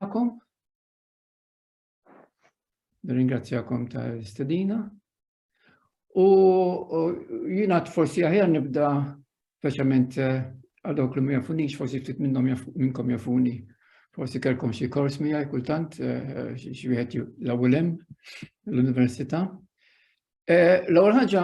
Għakom. Ringrazzjakom tal-istedina. U jina forsi aħjar nibda speċjalment eh, għal dawk li ma jafunix, forsi ftit minnhom minnkom jafuni. Forsi kelkom xi kors mija kultant eh, xi wieħed l-ewwel l-università. Eh, l-ewwel ħaġa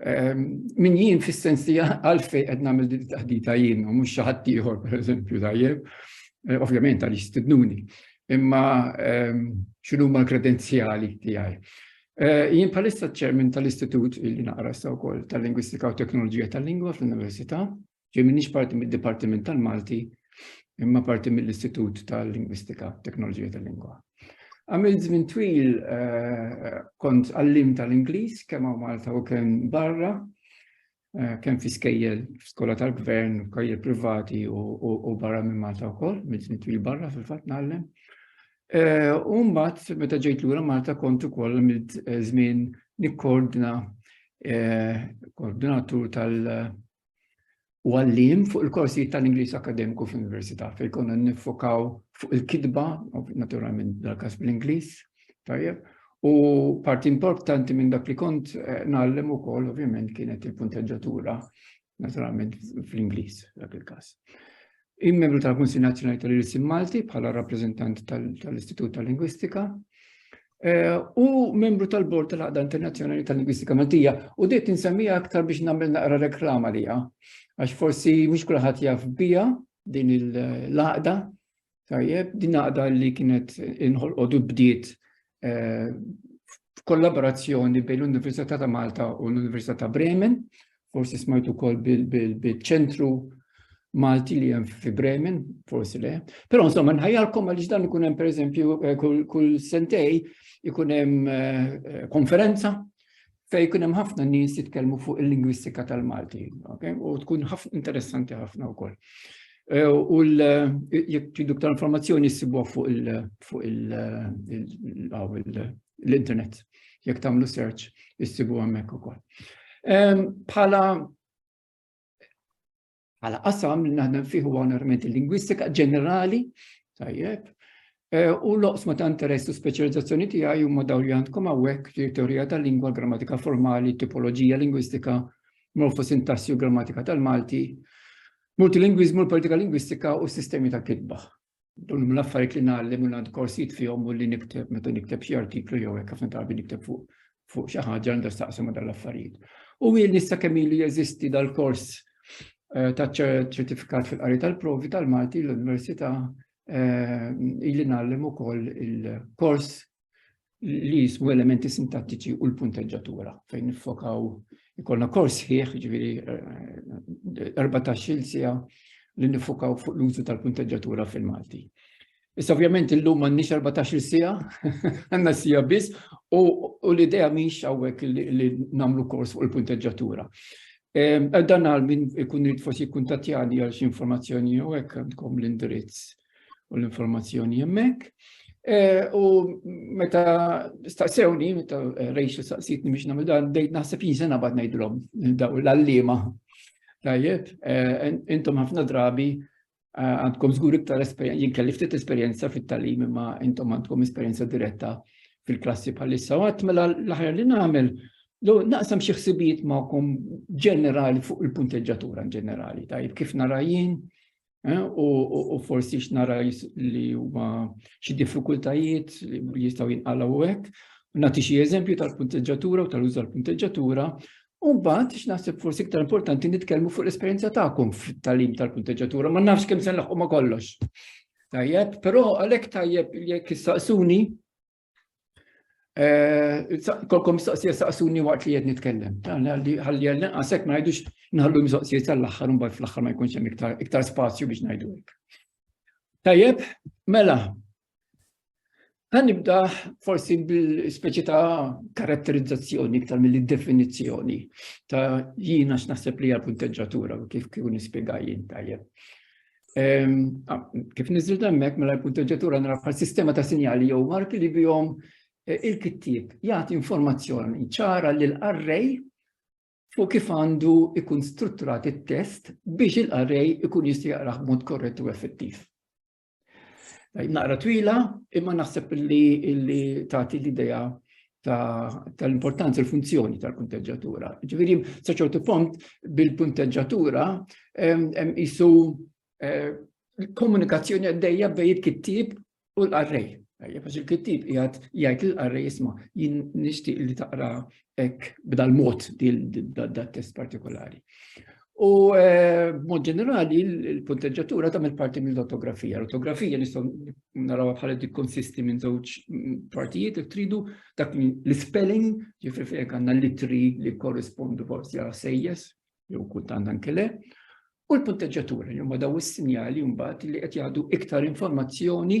Ehm, min jien fis-sens li għalfej qed nagħmel din taħdita jien u mhux xi ħadd ieħor pereżempju tajjeb, eh, ovvjament għaliex stidnuni, imma ehm, x'inhu ma l-kredenzjali tiegħi. Eh, jien bħalissa ċermin tal-Istitut illi naqra sa wkoll tal-Lingwistika u Teknoloġija tal-Lingwa fl-Università Ġej m'iniex parti mid-Dipartiment tal-Malti imma parti mill-Istitut tal-Lingwistika Teknoloġija tal-Lingwa. Għamil żmien twil eh, kont għallim tal-Ingliż kemm hawn Malta u kemm barra, eh, kemm fi skejjel skola tal-gvern, skejjel privati u barra minn Malta wkoll, minn żmien twil barra fil-fatt nagħllem. Eh, u mbagħad meta ġejt lura Malta kont ukoll għamil żmien nikkoordina koordinatur tal- u għalliem fuq il-korsijiet tal-Ingliż akademiku fl-Università fejn konna nifokaw fuq il-kitba, naturalment dal-każ bl-Ingliż, tajjeb, u parti importanti minn dak li kont eh, nagħllem ukoll ovvjament kienet il-punteġġatura naturalment fl-Ingliż dak il-każ. Il-membru tal-Kunsill Nazzjonali tal-Irsim Malti bħala rappreżentant tal-Istitut tal-Lingwistika eh, u membru tal-Bord tal-Għaqda Internazzjonali tal-Lingwistika Maltija u dejt insemmija aktar biex nagħmel naqra reklama liha għax forsi mhux kulħadd jaf bija din il-laqda tajjeb din laqda li kienet inħolqodu bdiet eh, f'kollaborazzjoni bejn l-Università ta' Malta u l-Università ta' Bremen, forsi smajtu kol bil-ċentru Malti li jem fi Bremen, forsi le. Pero insomma, nħajalkom għalix dan ikun hemm pereżempju eh, kull sentej ikun hemm eh, konferenza fej kun hemm ħafna nies jitkellmu fuq il-lingwistika tal-Malti, okay? u tkun interessanti ħafna wkoll. Eh, u jekk tridu ktar informazzjoni ssibuha fuq l-internet. Jekk tagħmlu search issibu hemmhekk ukoll. Bħala bħala qasam li naħdem fih huwa onorament il-lingwistika ġenerali, tajjeb, e, u l-oqsma ta' interess u speċjalizzazzjoni tiegħi huma dawn li għandkom hawnhekk li teorija tal-lingwa, grammatika formali, tipoloġija lingwistika, morfosintassi u grammatika tal-Malti, multilingwiżmu, l-politika lingwistika u sistemi ta' kitba. Dun huma l-affarijiet li ngħallem u li għandi korsijiet fihom u li nikteb meta nikteb xi artiklu jew hekk ħafna drabi nikteb fuq fuq xi ħaġa għandha staqsam ma' dal-affarijiet. U jien nista' kemm ilu jeżisti dal-kors eh, ta' ċertifikat fil-qari tal-provi tal-Malti l-Università eh, ili nagħllem ukoll il-kors li jismu elementi sintattiċi u l-punteġġatura fejn nifokaw ikollna kors ħieħ ġviri 14 eh, eh, sija li nifokaw fuq l-użu tal-punteġġatura fil-Malti. Issa ovvjament illum m'għandniex 14 sija, għandna sija biss u l-idea mhix hawnhekk li nagħmlu kors fuq il-punteġġatura. Ehm, dan għal min ikun rrid forsi kuntatjani għal xi informazzjoni jew hekk għandkom l-indirizz u l-informazzjoni hemmhekk. Eh, u meta staqsewni, meta eh, rejxu staqsitni biex nagħmel dan, bdejt naħseb jinsen abad ngħidilhom daw l-allima. Tajjeb, eh, intom ħafna drabi għandkom żgur iktar esperjenza, jien kelli ftit esperjenza fit-talim imma intom għandkom esperjenza diretta fil-klassi bħalissa. Għat mela l-aħjar li nagħmel Lo naqsam xi ħsibijiet magħkom ġenerali fuq il-punteġġatura ġenerali, tajjeb kif narajin, Eh, u forsi x'nara li huma xi diffikultajiet li jistgħu jinqalgħu hekk. Nagħti xi eżempju tal-punteġġatura u tal-użu tal-punteġġatura U mbagħad x'naħseb forsi iktar importanti nitkellmu fuq l-esperjenza tagħkom fit-talim tal-punteġġatura, ma nafx kemm se nlaħqu ma kollox. Tajjeb, però għalhekk tajjeb jekk issaqsuni Eh, kolkom mistoqsija saqsuni waqt li jed nitkellem. Għalli għalli għasek ma jgħidux nħallu mistoqsija tal-axħar, un bħal fl-axħar ma jkunx hemm iktar spazju biex ngħidu hekk. Tajjeb, mela, Għan nibda forsi bil-speċi ta' karatterizzazzjoni iktar mill-definizjoni ta' jina x'naħseb li għal-punteġġatura u kif kif nispjega jien tajjeb. Kif niżil hemmhekk mela l-punteġġatura nrafal sistema ta' sinjali jew marki li bihom eh, il-kittieb jagħti informazzjoni ċara lil array fuq kif għandu ikun strutturat it-test biex il-array ikun jista' jaqrah b'mod korrett u effettiv. Naqra twila, imma naħseb li tagħti l-idea tal-importanza ta l-funzjoni tal-punteġġatura. Ġifieri sa ċertu punt bil-punteġġatura jisu eh, komunikazzjoni għaddejja bej il-kittib u l-qarrej. Għax il-kittib jgħat jgħid l-qarrej jisma jien nixtieq li taqra ek b'dal-mod dal-test partikolari. U eh, b'mod ġenerali, il-punteġġatura tagħmel parti mill-ortografija. L-ortografija nistgħu naraw bħala dik konsisti minn żewġ partijiet jekk tridu dak l-spelling, ġifri fejn għandna litri li korrispondu forsi għal sejjes, jew kultant anke le, u l-punteġġatura li huma daw is-sinjali mbagħad li qed jgħadu iktar informazzjoni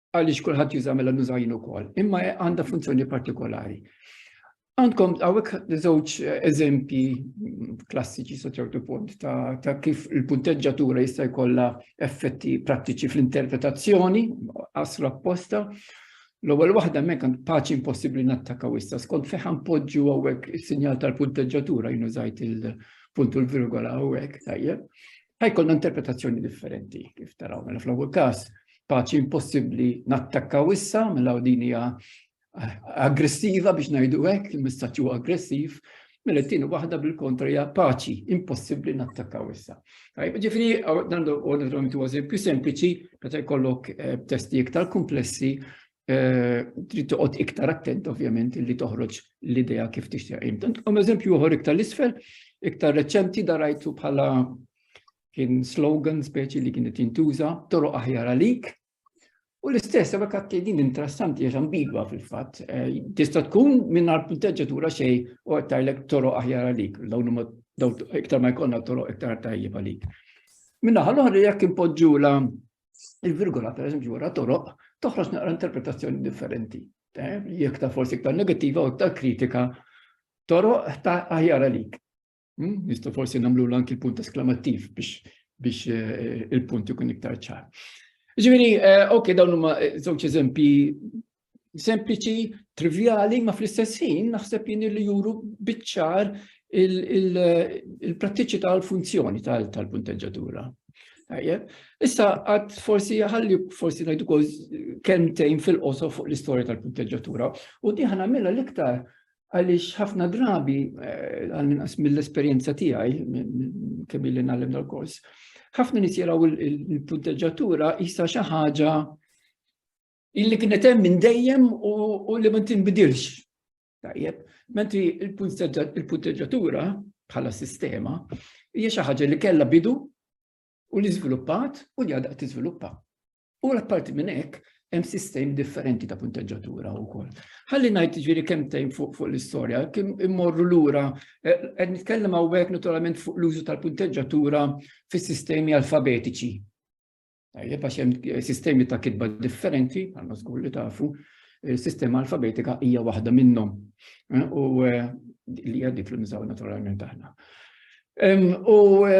għaliex kulħadd juża mela nuża jien ukoll, imma għandha funzjoni partikolari. Għandkom għawek żewġ eżempji klassiċi sa ċertu punt ta', ta kif il-punteġġatura jista' jkollha effetti prattiċi fl-interpretazzjoni, aslu apposta, L-ewwel waħda mek għand paċi impossibbli nattakaw issa skont feħan poġġu hawnhekk is-sinjal tal-punteġġatura jinużajt il-punt u l-virgola hawnhekk tajjeb. ħajkollna interpretazzjoni differenti kif taraw mela fl-ewwel każ paċi impossibbli nattakkaw issa mela din hija eh, aggressiva biex ngħidu hekk, il-messaġġ huwa aggressiv, mela t-tieni waħda bil-kontra hija paċi impossibbli nattakkaw issa. Tajb, ġifieri dan huwa eżempju sempliċi meta jkollok eh, testi iktar komplessi Eh, trid toqgħod iktar attent ovvjament li toħroġ l-idea kif tixtieq imtant. Kom eżempju uħor iktar l-isfel, iktar reċenti darajtu bħala kien slogan speċi li kienet jintuża, toroq aħjar għalik. U l-istess, għabek għatti din interessanti, għax ambigwa fil-fat. Eh, tista tkun minn għal punteġġatura xej u għattajlek toroq aħjar għalik, dawn iktar ma jkollna toroq iktar tajjeb għalik. Minna ħal-oħra jekk impoġġu la il-virgola per eżempju wara toroq toħroġ naqra interpretazzjoni differenti. Eh, jekk ta' forsi iktar negattiva u iktar kritika toroq ta' aħjar għalik. Hmm? Nistgħu forsi nagħmlu anki l-punt esklamattiv biex biex eh, il-punt ikun iktar ċar. Ġifieri, eh, ok, dawn huma żewġ eżempji sempliċi, trivjali, ma fl-istess ħin naħseb jien li juru biċċar il-prattiċi tal-funzjoni tal-punteġġatura. Issa għad forsi ħalli forsi najdu kol kentejn fil-qoso fuq l-istorja tal-punteġġatura u diħan għamilla l-iktar għalix ħafna drabi eh, għal-minqas mill-esperienza tiegħi kemm li nagħlem dal-kors. Ħafna nies jaraw il-punteġġatura jisa xi ħaġa illi kienet hemm minn dejjem u li ma tinbidilx. Tajjeb, mentri il-punteġġatura bħala sistema hija xi ħaġa li kellha bidu u li żviluppat u li għadha tiżviluppa. U l-apparti minn hekk hemm sistemi differenti ta' punteġġatura wkoll. Ħalli ngħid ġifieri kemm tejn fuq fuq l-istorja, kemm immorru lura eh, qed nitkellem hawnhekk naturalment fuq l-użu tal-punteġġatura fis-sistemi alfabetiċi. Tajjeb għax hemm eh, sistemi ta' kitba differenti, għandna żgur li tafu, eh, sistema alfabetika hija waħda minnhom. Eh, u li hija dik li nisaw naturalment aħna. U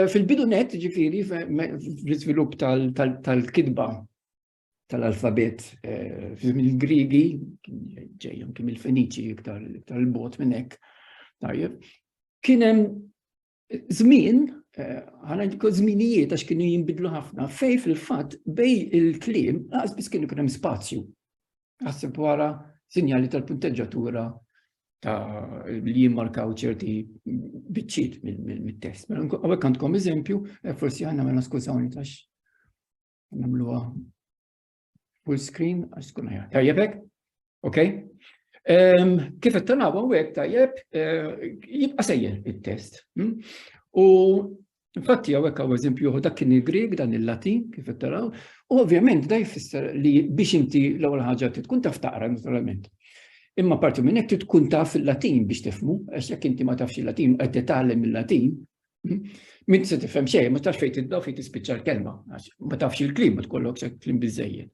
fil-bidu net, ġifiri, fl-izvilup tal-kidba tal-alfabet fizm il-Grigi, ġejjom kim il-Feniċi iktar il-bot minnek, tajjeb, kienem Żmien, ħanajdu żminijiet għax kienu jinbidlu ħafna, fej fil-fatt bej il-kliem laqas biss kienu kien hemm spazju. Għasib wara sinjali tal-punteġġatura ta' li jimmarkaw ċerti biċċiet mit-test. Mela, għawek għandkom eżempju, eh, forsi għanna mela skużawni tax namluwa Full screen, għax tkun ħajja. Tajjebek? Ok? Ehm, kif qed tagħna hawnhekk tajjeb eh, jibqa' sejjer it-test. Hm? U infatti hawnhekk hawn eżempju dak kien il-Grieg dan il-Latin kif qed taraw, u ovvjament da jfisser li biex inti l-ewwel ħaġa tkun taf taqra naturalment. Imma parti minn hekk tkun taf il-Latin biex tifmu, għax jekk inti ma tafx il-Latin qed titgħallem il-Latin, Min se tifhem xejn, ma tafx fejn tibda fejn tispiċċa l-kelma, ma tafx il-klim, ma tkollok se klim biżejjed.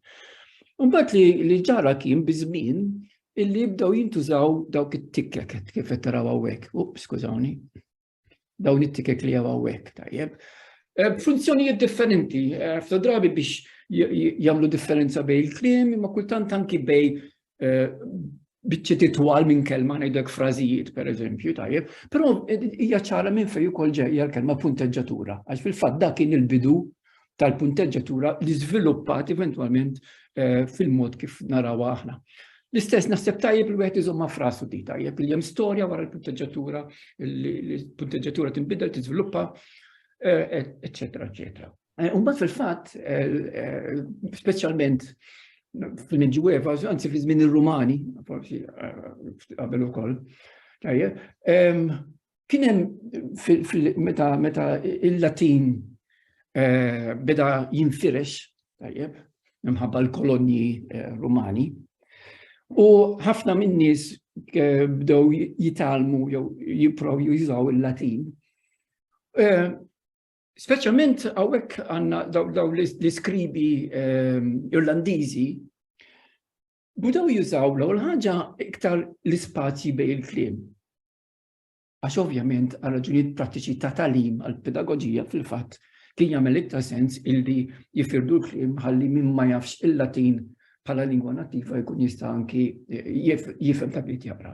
Imbagħad li li ġara kien biż-żmien illi jibdew jintużaw dawk it-tikkek kif qed taraw hawnhekk. Up, skużawni. Dawn it-tikkek li hawn hawnhekk tajjeb. Eh, funzjonijiet differenti, eh, f'ta drabi biex jagħmlu differenza bejn il-klim, imma kultant anki bejn eh, biċċiet itwal minn kelma ngħidlek frażijiet pereżempju tajjeb, però eh, hija ċara minn fejn ukoll ġejja l-kelma punteġġatura, għax fil-fatt dak kien il-bidu tal-punteġġatura li żviluppat eventwalment eh, fil-mod kif naraw aħna. L-istess naħseb tajjeb li wieħed iżomma frasu di tajjeb li hemm storja wara l-punteġġatura, l-punteġġatura tinbidel, tiżviluppa, eċetera, eh, eċetera. Mbagħad fil-fatt, speċjalment fil-Medjueva, anzi fi żmien ir-Rumani, forsi qabel ukoll, tajjeb, kien hemm meta meta il-Latin beda jinfirex, tajjeb, minħabba l-kolonji Rumani, u ħafna min-nies bdew jitgħallmu jew jipprovaw jużaw il-Latin. Speċjalment hawnhekk għandna daw l-iskribi ehm, Irlandiżi budaw jużaw l-ewwel ħaġa iktar l-ispazji bejn il-kliem. Għax ovvjament għal raġunijiet prattiċi ta' talim għal pedagogija fil-fatt kien jagħmel iktar sens illi jifirdu l-kliem ħalli min ma jafx il-Latin bħala lingwa nattiva jkun jista' anki jifhem ta' bit jaqra.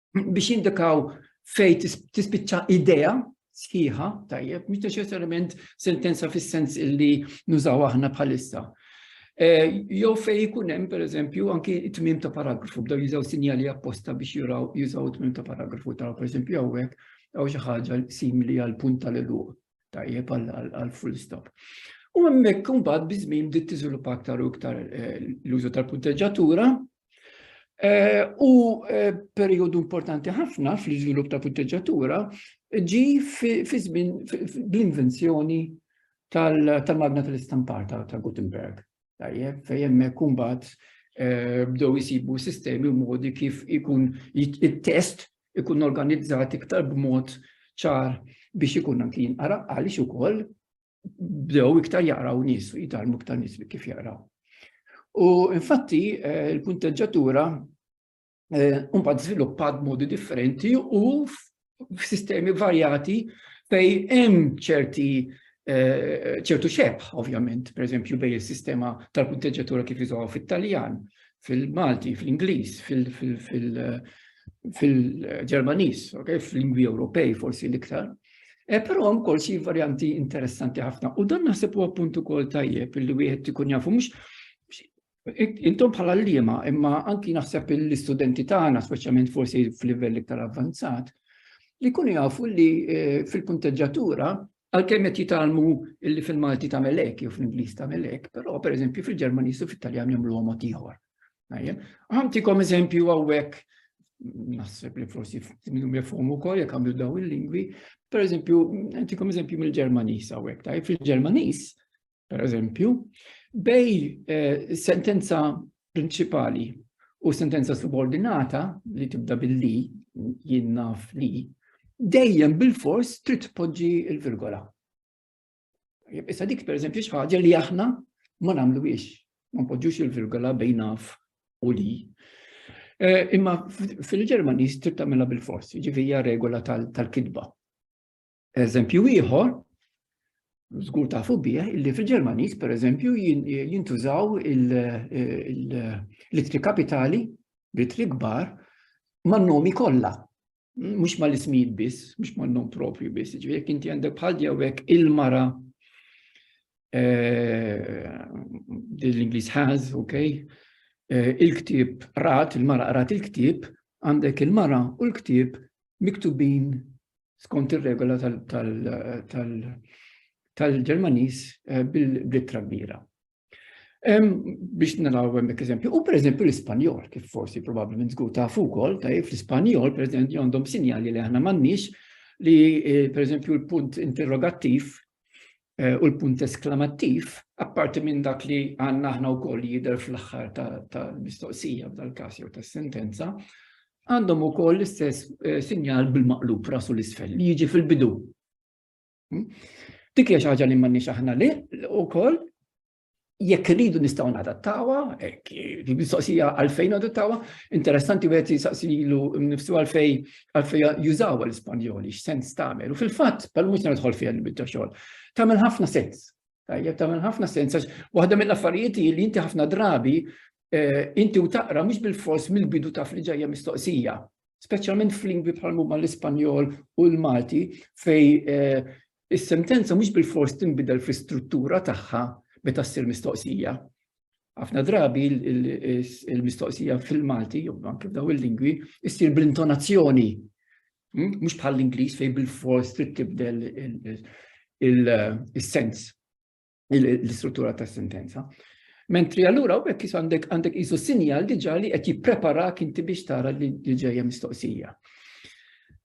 biex jindikaw fej tispiċċa idea sħiħa, tajjeb, mhux neċessarjament sentenza fis-sens illi nużaw aħna bħalissa. Eh, jew fej ikun hemm pereżempju anki t-tmiem ta' paragrafu bdew jużaw sinjali apposta biex juraw jużaw t-tmiem ta' paragrafu taraw pereżempju hawnhekk jew xi ħaġa simili għal punt tal-eluq tajjeb għal full stop. U hemmhekk imbagħad biżmin bdiet tiżviluppa aktar u iktar eh, l-użu tal-punteġġatura Eh, u eh, periodu importanti ħafna fl-iżvilupp ta' punteġġatura ġi fi żmien bl-invenzjoni tal-magna tal-istampar ta' Gutenberg. Tajjeb, fejjem kumbat eh, bdew jisibu sistemi u modi kif ikun it-test ikun organizzat iktar b'mod ċar biex ikun anki jinqara għaliex ukoll bdew iktar jaqraw nies u jitalmu iktar nies bi kif jaqraw. U infatti eh, il-punteġġatura eh, mbagħad żviluppat modi differenti u f'sistemi varjati fej hemm ċerti eh, ċertu xebħ, ovvjament, per eżempju, bej il-sistema tal-punteġġatura kif iżgħu fit-Taljan, fil-Malti, fl-Ingliż, fil-Ġermaniż, fil-lingwi Ewropej forsi l-iktar. E, però hemm kol xi varjanti interessanti ħafna. U dan naħseb huwa punt ukoll tajjeb li wieħed ikun jafu mhux intom bħala l-liema, imma anki naħseb l-istudenti tagħna, speċjalment forsi f'livell iktar avvanzat, li kun jafu li e, fil-punteġġatura Għalkemm qed jitgħallmu illi fil-Malti tagħmel hekk jew fl-Ingliż tagħmel hekk, però pereżempju fil-Ġermaniż u fit-Taljan jagħmlu mod ieħor. Ħamtikom eżempju hawnhekk naħseb li forsi minnum jafhom ukoll jekk għamlu daw il-lingwi, pereżempju, għantikom eżempju mill-Ġermaniż hawnhekk, tajjeb fil-Ġermaniż per eżempju, bej eh, sentenza prinċipali u sentenza subordinata li tibda billi jien naf li dejjem bil-fors trid tpoġġi l-virgola. Issa dik per eżempju xi ħaġa li aħna ma nagħmluhiex, ma npoġġux il-virgola bejn naf u li. Eh, imma fil-Ġermaniż trid tagħmilha bil-fors, jiġifieri hija regola tal-kidba. Eżempju ieħor, żgur tafu bih, li fil-Ġermaniż pereżempju jintużaw l-ittri kapitali b'itri kbar man-nomi kollha. Mhux mal-ismijiet biss, mhux man-nom propju biss, ġifieri jekk inti għandek bħal jawek il-mara eh, l-Ingliż has, ok, eh, il-ktib rat, il-mara rat il-ktib, għandek il-mara u l-ktib miktubin skont ir-regola tal-Ġermaniż eh, bil-blittra kbira. Biex naraw hemmhekk eżempju, u pereżempju l-Ispanjol, kif forsi probabbilment żgur ta' ukoll, ta' fl-Ispanjol pereżempju għandhom sinjali li aħna m'għandniex li eh, pereżempju l-punt interrogattiv u l-punt esklamattiv, apparti minn dak li għandna aħna wkoll li jidher fl-aħħar tal-mistoqsija f'dal-każ jew tas-sentenza, għandhom ukoll l-istess sinjal bil-maqlub ras u l-isfel li jiġi fil-bidu. Dik hija xi ħaġa li m'għandniex aħna wkoll, jekk rridu nistgħu nadattawha, li mistoqsija għalfejn nadattawha, interessanti wieħed jisaqsilu nifsu għalfej għalfej jużaw l-Ispanjoli, x'sens tagħmel. U fil-fatt, pal mhux nidħol fiha l ta' xogħol, tagħmel ħafna sens. Tajjeb tagħmel ħafna sens għax waħda mill-affarijiet li inti ħafna drabi eh, inti u taqra mhux bil-fors mill-bidu taf li ġejja mistoqsija. speċjalment f'lingwi bħal huma l-Ispanjol u l-Malti fej eh, is-sentenza mhux bil-fors tinbidel fl-istruttura tagħha meta ssir mistoqsija. Ħafna drabi il-mistoqsija fil-Malti, jew anke f'daw il-lingwi, issir bl-intonazzjoni. Hmm? Mhux bħal l-Ingliż fejn bil-fors trid tibdel il-sens. l-istruttura ta' sentenza. Mentri allura u bekk jisu għandek għandek jisu sinjal diġa li qed jippreparak inti biex tara li ġejja mistoqsija.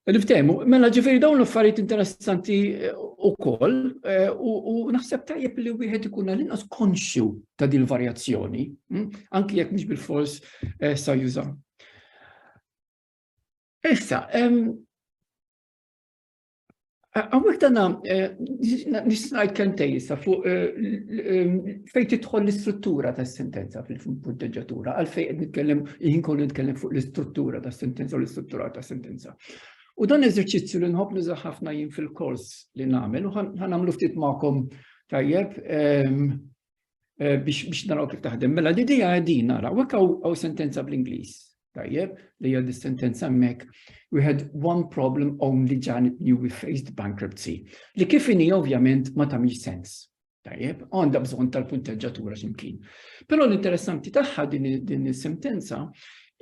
Niftehmu, mela ġifieri dawn l-affarijiet interessanti eh, ukoll eh, u naħseb tajjeb li wieħed ikun għal-inqas konxju ta' din varjazzjoni, hm? anki jekk mhux bil-fors eh, sa juża. Issa, Għawek dana, eh, nisnajt kentej jissa fuq eh, eh, fejt titħol l-istruttura ta' sentenza fil-punteġatura, għal fej nitkellem, jien kollu nitkellem fuq l-istruttura ta' sentenza u l-istruttura ta' sentenza. U dan eżerċizzju li nħobb nuża ħafna jien fil-kors li nagħmel u ħanamlu ftit magħkom tajjeb. Ehm, eh, biex naraw kif taħdem. Mela l-idea għedin nara, u għaw sentenza bl-Inglis, tajjeb, li għad sentenza mek, we had one problem only Janet knew we faced bankruptcy, li kif ini ovvjament ma tamiex sens. Tajjeb, għanda bżon tal-punteġġatura ximkien. Pero l-interessanti taħħa din il-sentenza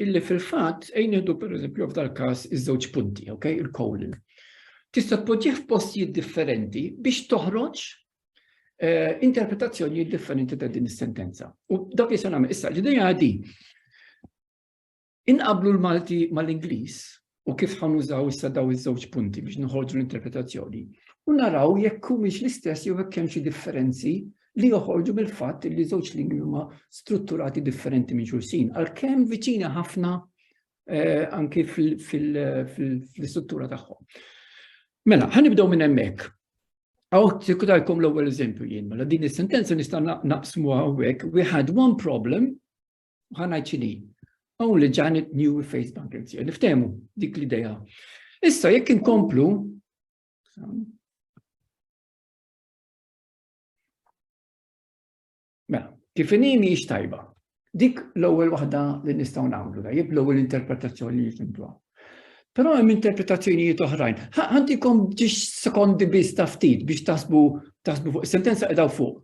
illi fil-fat ejn jihdu per eżempju f'dal kas iż-żewġ punti, ok, il-colon tista' tpoġġih f'postijiet differenti biex toħroġ eh, interpretazzjoni differenti ta' din is-sentenza. U dak li se nagħmel issa l-idea di inqablu l-Malti mal-Ingliż u kif ħanużaw issa daw iż-żewġ punti biex nħorġu l-interpretazzjoni u naraw jekk humiex l-istess jew hekk hemm xi differenzi li joħorġu mill-fatt li żewġ lingwi huma strutturati differenti minn xulxin, għalkemm viċina ħafna eh, anki fil-istruttura tagħhom. Mela, ħanibdew minn hemmhekk. Għaw, sikurajkom l-ewwel eżempju jien, mela din is-sentenza nista' naqsmu għawek, we had one problem, ħana ċini, only Janet knew we faced bankruptcy. Niftemu dik l-ideja. Issa, jekk inkomplu, Mela, kif inhi mhijiex tajba. Dik l-ewwel waħda li nistgħu nagħmlu da, jib l-ewwel interpretazzjoni li jifimtuha. Però hemm interpretazzjonijiet oħrajn. Ħantikom ġiex sekondi biss ta' ftit biex tasbu tasbu fuq sentenza qedaw fuq.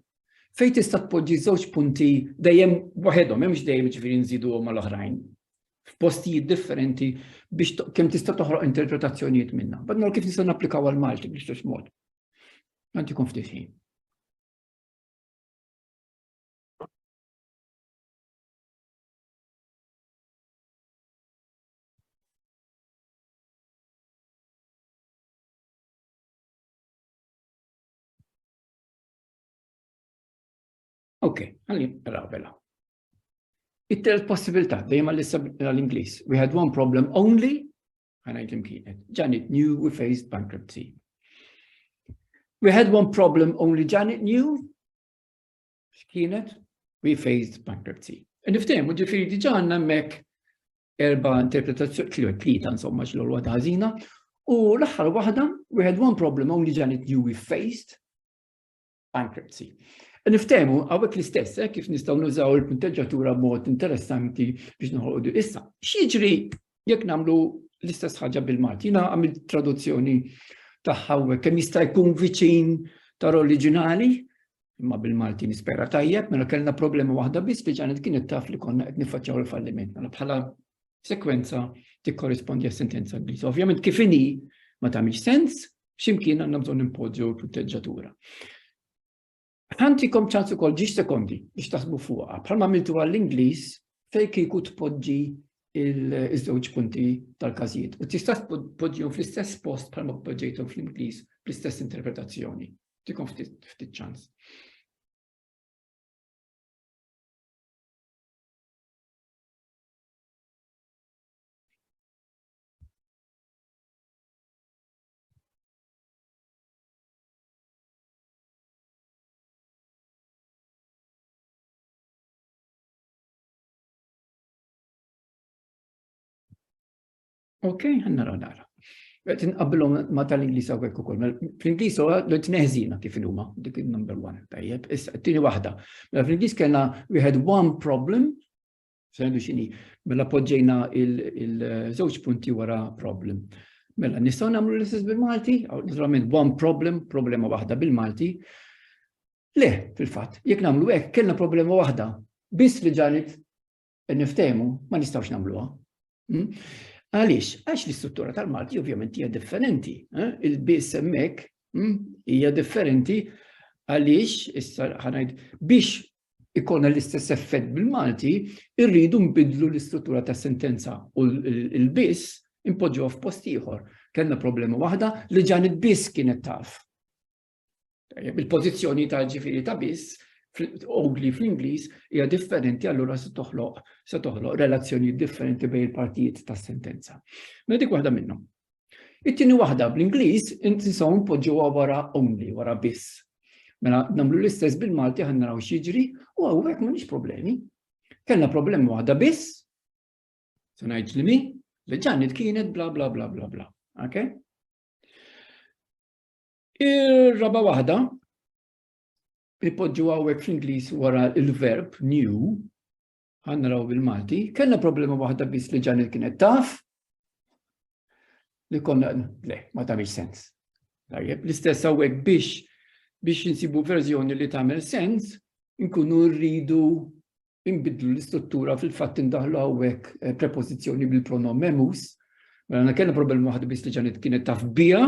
Fejn tista' tpoġġi żewġ punti dejjem waħedhom, hemmx dejjem ġifieri nżidu mal-oħrajn. F'postijiet differenti biex kemm tista' toħroq interpretazzjonijiet minnha. Badna kif nista' napplikaw għal Malti biex mod. Għantikom ftit ħin. Ok, għalli rabela. It-telt possibilità, dejjem għall-Inglis. We had one problem only, Għana jtim kienet. Janet knew we faced bankruptcy. We had one problem only Janet knew. X'kienet? We faced bankruptcy. E Niftem, u ġifiri diġa għanna mek erba interpretazzjoni, tliet tlieta insomma x'l waħda ħażina, u l-aħħar waħda, we had one problem only Janet knew we faced, bankruptcy. Niftehmu għawek l-istess, eh, kif nistaw nużaw il-punteġġatura mod interessanti biex nħolqu issa. X'jiġri jekk namlu l-istess ħaġa bil-Malti? Jina għamil traduzzjoni taħħaw kemm jista' jkun viċin tar oriġinali, imma bil-Malti nispera tajjeb, mela kellna problema waħda biss li ġanet kienet taf li konna qed niffaċċaw il-falliment. Mela bħala sekwenza tikkorrispondi għas-sentenza Ingliża. Ovvjament kif inhi ma tagħmilx sens, X'imkien għandna bżonn impoġġu l-proteġġatura. Ħantikom ċans ukoll ġiex sekondi biex taħsbu fuqha, bħalma għamiltu għall-Ingliż fejn kieku tpoġġi iż-żewġ punti tal-każijiet. U tista' tpoġġihom fl-istess post bħalma poġġejthom fl-Ingliż bl-istess interpretazzjoni. Tikom ftit ċans. Ok, għanna nara. Għet nqabbilom ma tal-Inglis għawek u koll. Mela, Fl-Inglis huwa l tneħzina kif il-huma, dik il-number one, tajjeb. Issa, t-tini wahda. Mela, Fl-Inglis kena we had one problem, Sejdu xini, mela poġġejna il-żewġ punti wara problem. Mela, nistaw namlu l-istess bil-Malti, naturalment one problem, problema waħda bil-Malti. Le, fil-fat, jek namlu hekk, kellna problema waħda, biss li ġanet niftemu, ma nistawx namluha. Hmm? Għaliex, għax l-istruttura tal-Malti ovvjament hija differenti. Eh? Il-biss hemmhekk hmm, hija differenti għaliex issa ħanajd biex ikollna l-istess effett bil-Malti, irridu nbiddlu l-istruttura tas-sentenza u l-biss impoġġuha f'post ieħor. Kellna problema waħda li ġan biss kienet taf. Il-pożizzjoni ta' ġifieri ta' biss ogli fl-Ingliż hija differenti allura se toħloq se toħloq relazzjoni differenti bejn il-partijiet tas-sentenza. Mela dik waħda minnhom. It-tieni waħda bl-Ingliż inti saw npoġġuha wara only, wara biss. Mela nagħmlu l-istess bil-Malti ħan naraw x'jiġri u hawnhekk m'għandix problemi. Kellna problema waħda biss, se ngħid li mi, li ġannet kienet bla bla bla bla bla. Okay? Ir-raba waħda ipoġġu għawek fl-Inglis wara il-verb new, Għanna raw bil-Malti. Kellna problema waħda biss li ġanil kienet taf li konna, le, ma tamil sens. Tajjeb, l-istess għawek biex biex nsibu verżjoni li tamil sens, nkunu rridu imbidlu l-istruttura fil-fatt indaħlu għawek eh, prepozizjoni bil-pronom memus, mela kellna problema waħda biss li ġanil kienet taf bija,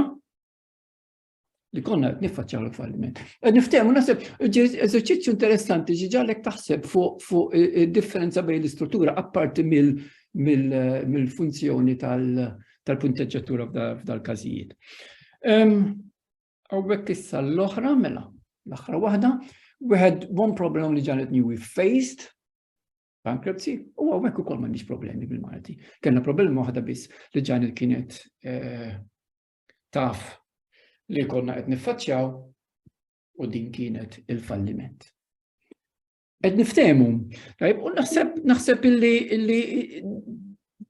li konna qed niffaċċjaw il-falliment. Qed niftehmu naħseb eżerċizzju interessanti ġi ġalek taħseb fuq id-differenza bejn l-istruttura apparti mill-funzjoni tal-punteġġatura f'dal-każijiet. Għawek issa l-oħra, mela, l-oħra waħda, we had one problem li ġanet new we faced, bankruptcy, u għawek u kol mandiġ problemi bil-Malti. Kenna problemi waħda biss li ġanet kienet eh, taf li konna qed niffaċċjaw u din kienet il-falliment. Qed niftehmu, tajb, u naħseb naħseb illi illi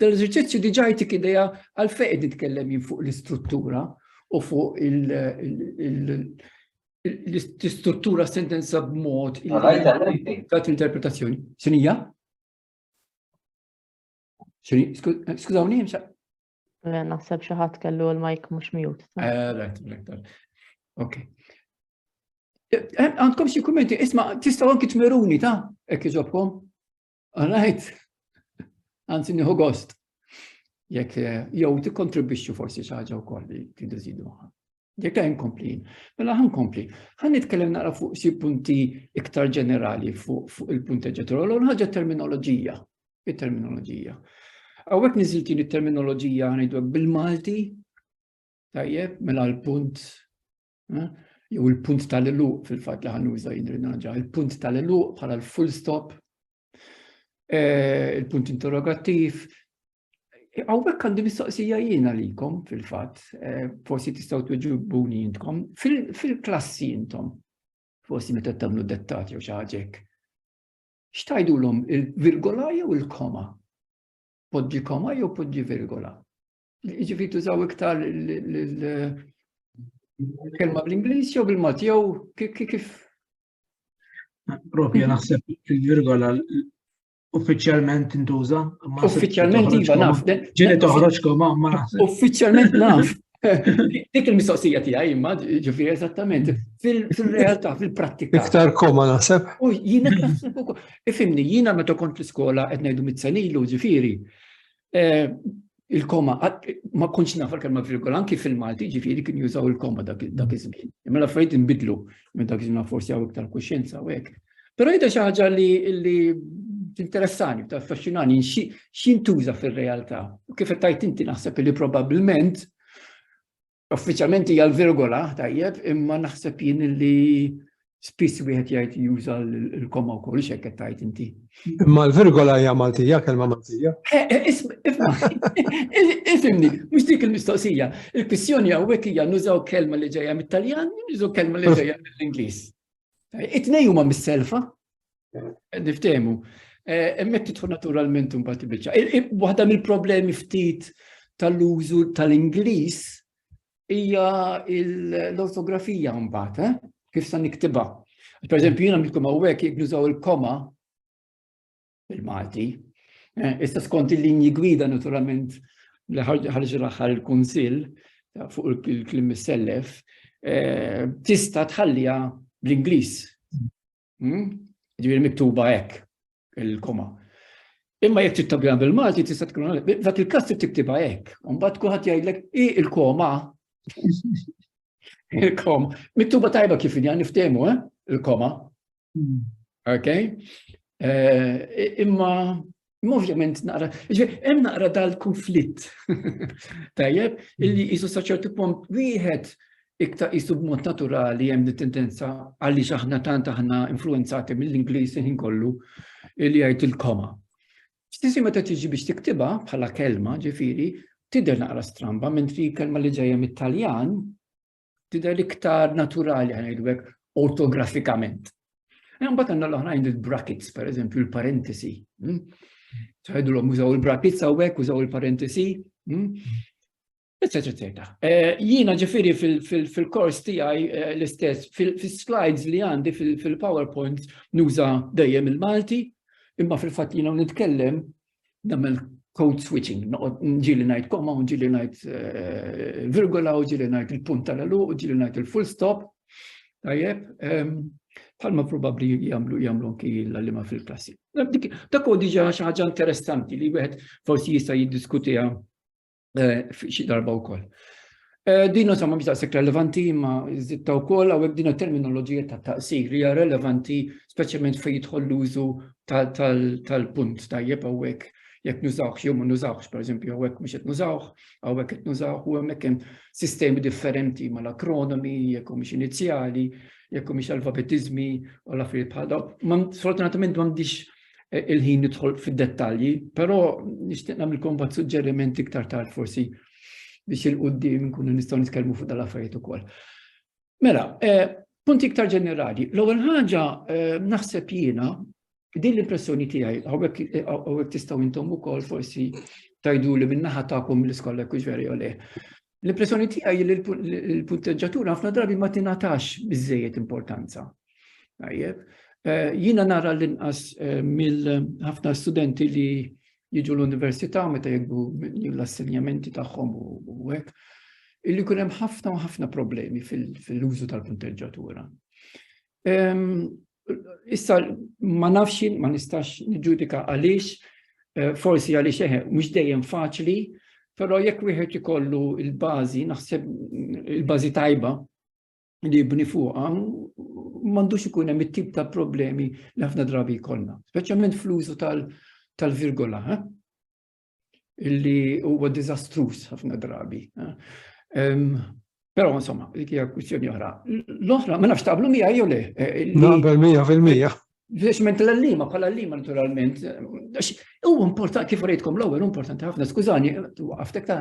dal-eżerċizzju diġà jtik idea għal fejn nitkellem jien fuq l-istruttura u fuq l-istruttura sentenza b'mod ta' interpretazzjoni. Sinija? Skużawni, Eh, naħseb xi ħadd kellu l-mike mhux mute. Eh, right, right, right. Ok. Eh, għandkom xi kummenti, isma' tistgħu anki tmeruni ta' hekk iġobkom. All right. Anzi nieħu gost. Jekk jew tikkontribwixxu forsi xi ħaġa wkoll li tidu żidu Jekk għajn kompli, mela għan kompli. Għan nitkellem naqra fuq si punti iktar ġenerali fuq il-punti ġenerali, u ħagġa terminoloġija, il-terminoloġija. Għawek niziltin il-terminoloġija għanidu bil-Malti, tajjeb, mela l-punt, eh, jew il-punt tal-eluq fil-fat li għan uża jindrinaġa, il-punt tal-eluq bħala l-full stop, Eh, il-punt interrogattiv. Għawek għandi mistoqsija jiena likom fil-fat, eh, forsi tistaw tuġibuni jintkom, fil-klassi jintom, forsi meta tamlu dettati u xaġek. Xtajdu l-om il-virgola jew il-koma? Podġi koma jew podġi virgola? Ġifi tużaw iktar il-kelma bl-Inglis jew bil-Mat jew kif Propja naħseb il-virgola uffiċjalment intuża. Uffiċjalment iva naf. Ġieli toħroġ koma ma naħseb. Uffiċjalment naf. Dik il-mistoqsija tiegħi imma ġifieri eżattament fil-realtà, fil-prattika. Iktar koma naħseb. U jiena naħseb ukoll. Ifimni, jiena meta kont l-iskola qed ngħidu mit-senilu ġifieri. eh, il-koma, ma kunx nafar kelma virgola, anki fil-Malti ġifiri kien jużaw il-koma dak iż-żmien. Imma l-affarijiet inbidlu minn dak iż-żmien forsi għaw iktar kuxjenza u hekk. Però jidha xi ħaġa li interessani, ta' affaxxinani, x'intuża fir-realtà. U kif qed tajt inti naħseb li probabbilment Uffiċjalment hija l-virgola, tajjeb, imma naħseb jien li spiss wieħed jgħid juża l-koma wkoll x'hekk qed tgħid inti. Imma l-virgola hija Maltija, kelma Maltija. Eh, eh, Ifimni, mhux dik il-mistoqsija. Il-kwistjoni hawnhekk hija nużaw kelma li ġejja mit-Taljan, nużaw kelma li ġejja mill-Ingliż. It-tnej huma mis-selfa, niftehmu. Eh, Emmek titfu naturalment un bat bieċa. Waħda mill-problemi ftit tal-użu tal-Inglis hija l-ortografija mbagħad, eh? kif sa niktibha. Per eżempju, jiena milkom hawnhekk jekk nużaw il-koma, bil-Malti. Eh, issa skont il-linji gwida naturalment li ħarġ l-aħħar il-Kunsill fuq il-klim sellef eh, tista' tħallija bl-Ingliż. Hmm? Ġifieri miktuba hekk il-koma. Imma jekk tittabja bil-Malti tista' tkun dak il-każ trid tiktibha hekk. Mbagħad kulħadd jgħidlek i il-koma. Il-koma. Mittuba tajba kif inja niftehmu, eh? Il-koma. Hmm. Ok? Eh, imma Ovvjament naqra, hemm naqra dal-konflitt. Tajjeb, illi jisu hmm. saċertu punt wieħed iktar jisu b'mod naturali hemm li tendenza għaliex aħna tant aħna influenzati mill-Ingliż ħin kollu li jgħid il-koma. Stisi meta tiġi biex tiktiba bħala kelma ġifiri, tidher naqra stramba, mentri kelma li ġejja mit-Taljan, tidher iktar naturali ħanajdu hekk ortografikament. Mbagħad għandna l-oħrajn il-brackets, per eżempju, il-parentesi. Hmm? ċaħidu l-om użaw il-brackets għawek, użaw il-parentesi, etc. Hmm? Eh, Jina ġifiri fil-kors tijaj eh, l-istess, fil-slides li għandi fil-PowerPoint nuża dejjem il-Malti, imma fil-fat jina nitkellem namel code switching, ġili najt koma, ġili najt eh, virgola, ġili najt il-punt tal-elu, ġili najt il-full stop, tajjeb, palma ehm, probabli jamlu jamlu anki l-għallima fil-klassi. Dak u diġa xaħġa interessanti li wieħed forsi jista' jiddiskutija eh, xi darba wkoll. Eh, din insomma mhix daqshekk relevanti imma żitta wkoll hawnhekk din terminoloġija ta' taqsir hija relevanti speċjalment fejn jidħol l-użu tal-punt tajjeb hawnhekk jekk nużawx jew ma nużawx, pereżempju hawnhekk mhux qed nużawx, hawnhekk qed nużawx u hemmhekk hemm sistemi differenti mal-akronimi, jekk mhux inizjali, jekk mhux alfabetiżmi u l-affarijiet bħal dawn. Sfortunatament m'għandix eh, il-ħin nidħol fid-dettalji, però nixtieq nagħmilkom bad suġġerimenti iktar tard forsi biex il-qudiem nkunu nistgħu nitkellmu fuq dal-affarijiet ukoll. Mela, eh, punti iktar ġenerali. L-ewwel ħaġa eh, naħseb jiena din l-impressjoni tiegħi hawnhekk tistgħu intom ukoll forsi tajdu li minnaħa tagħkom l-iskola kux veri le. L-impressjoni tiegħi li l-punteġġatura ħafna drabi ma tingħatax biżejjed importanza. Tajjeb, eh, jiena nara l-inqas eh, mill-ħafna studenti li jiġu l-università meta jibdu l-assenjamenti tagħhom u hekk, illi kun hemm ħafna u ħafna problemi fil-użu tal-punteġġatura. Issa ma nafx ma nistax niġġudika għaliex, eh, forsi għaliex eħe, eh, mhux dejjem faċli, però jekk wieħed ikollu il-bażi, naħseb il-bażi tajba li jibni fuqha, m'għandux ikun hemm it-tip ta' problemi li ħafna drabi jkollna, speċjalment fl-użu tal-virgola. Eh? illi huwa diżastruż ħafna drabi. Però insomma, dik hija kwistjoni oħra. L-oħra, ma nafx taqblu mija jew le. Eh, Naqbel mija fil-mija. Biex ment l-allima, bħala l-allima naturalment. U importanti, kif rejtkom l-ewwel, importanti ħafna, skużani, għaftek ta'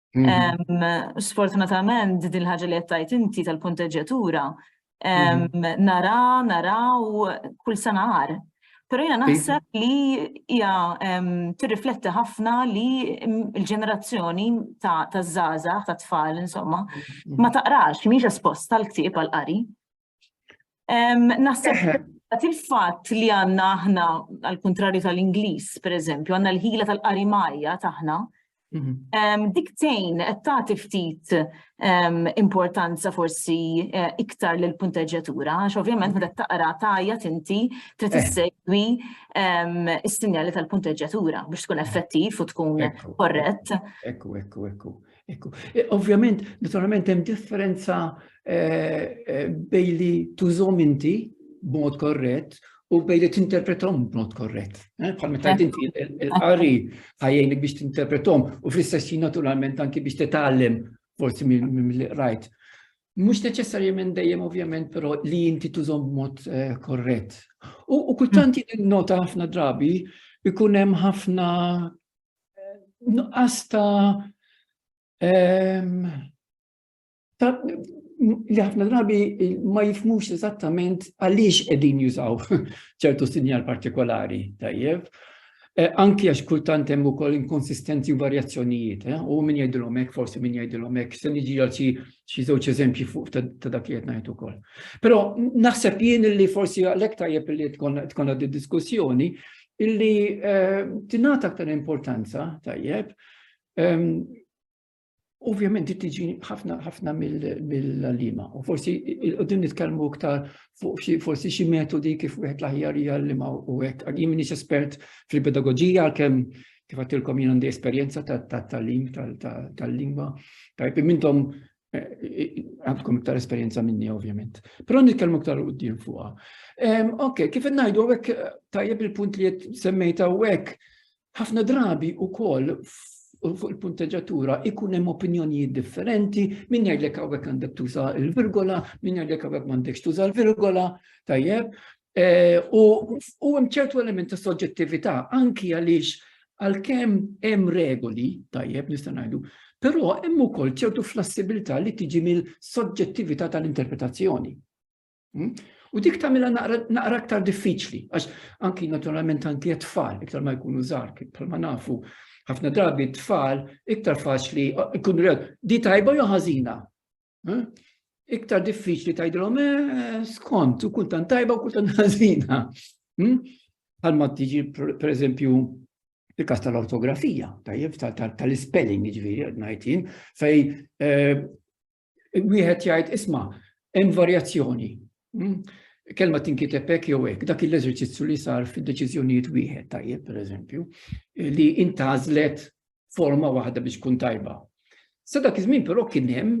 Sfortunatament, din ħaġa li għattajt inti tal-konteġġatura, nara, nara u kull sena għar. Pero jena naħseb li hija tirrifletti ħafna li l-ġenerazzjoni ta' zaza, ta' tfal, insomma, ma taqrax, miex espost tal-ktib għal-qari. Naħseb il-fatt li għanna aħna, għal-kontrarju tal-Inglis, per eżempju, għanna l-ħila tal-qarimajja taħna, mhm. diktejn qed tagħti ftit importanza forsi eh, iktar l punteġġjatura għax ovvjament meta taqra tajja tinti trid eh. issegwi is-sinjali tal-punteġġjatura biex tkun effettiv u tkun korrett. Ekku, ekku, ekku. Ekku, e, ovvjament, naturalment hemm differenza e, e, bej li tużom inti b'mod korrett u bej li tinterpretom b'mod korrett. Bħal meta inti il-qari ħajjejnik biex tinterpretom u fl-istess naturalment anki biex titgħallem forsi mill rajt. Mhux neċessarjament dejjem ovvjament però li inti tużom b'mod korrett. U kultanti nota ħafna drabi ikun hemm ħafna nuqqas ta' li ħafna drabi ma jifmux eżattament għaliex qegħdin jużaw ċertu sinjal partikolari tajjeb. Eh, anki għax kultant hemm ukoll inkonsistenzi u varjazzjonijiet, eh, u min jgħidilhom hekk, forsi min jgħidilhom hekk, se niġi għal xi żewġ eżempji fuq ta' dak li qed ngħid ukoll. Però naħseb jien li forsi għalhekk tajjeb li tkun għaddi diskussjoni, illi tingħata aktar importanza tajjeb Ovvjament di tiġi ħafna ħafna mill-lima. U forsi qudiem nitkellmu iktar fuq forsi xi metodi kif wieħed l-aħjar hija l-lima u hekk. Jien m'iniex espert fil-pedagoġija għalkemm kif għatilkom jien għandi esperjenza tal-talim tal-lingwa. Tajb mintom għandkom iktar esperjenza minni ovvjament. Però nitkellmu iktar u d-din fuqa. Ok, kif najdu għek tajjeb il-punt li semmejta għek, ħafna drabi u koll fuq il-punteġatura ikun hemm opinjonijiet differenti, min jgħidlek hawnhekk għandek tuża l-virgola, min jgħidlek hawnhekk m'għandekx tuża l-virgola, tajjeb, Eh, u hemm ċertu element ta' soġġettività anki għaliex għalkemm hemm regoli tajjeb nista' ngħidu, però hemm ukoll ċertu flassibilità li tiġi mill-soġġettività tal-interpretazzjoni. Hmm? U dik tagħmilha naqra aktar diffiċli, għax anki naturalment anki tfal iktar ma jkunu żgħar bħalma nafu ħafna drabi tfal iktar faċli ikun rew di tajba jew ħażina. Eh? Iktar diffiċli tajdilhom eh, skont, u kultant tajba u kultant ħażina. Hmm? Bħalma tiġi, per eżempju, il-kas tal-ortografija, tajjeb, tal-spelling, ġviri, najtin, fej eh, wieħed jgħid isma' hemm varjazzjoni. Hmm? Kelma tinkiteb hekk jew hekk, dak l-eżerċizzju li sar fid-deċiżjonijiet wieħed tajjeb, per eżempju, li intażlet forma waħda biex tkun tajba. Sa dak iż-żmien però kien hemm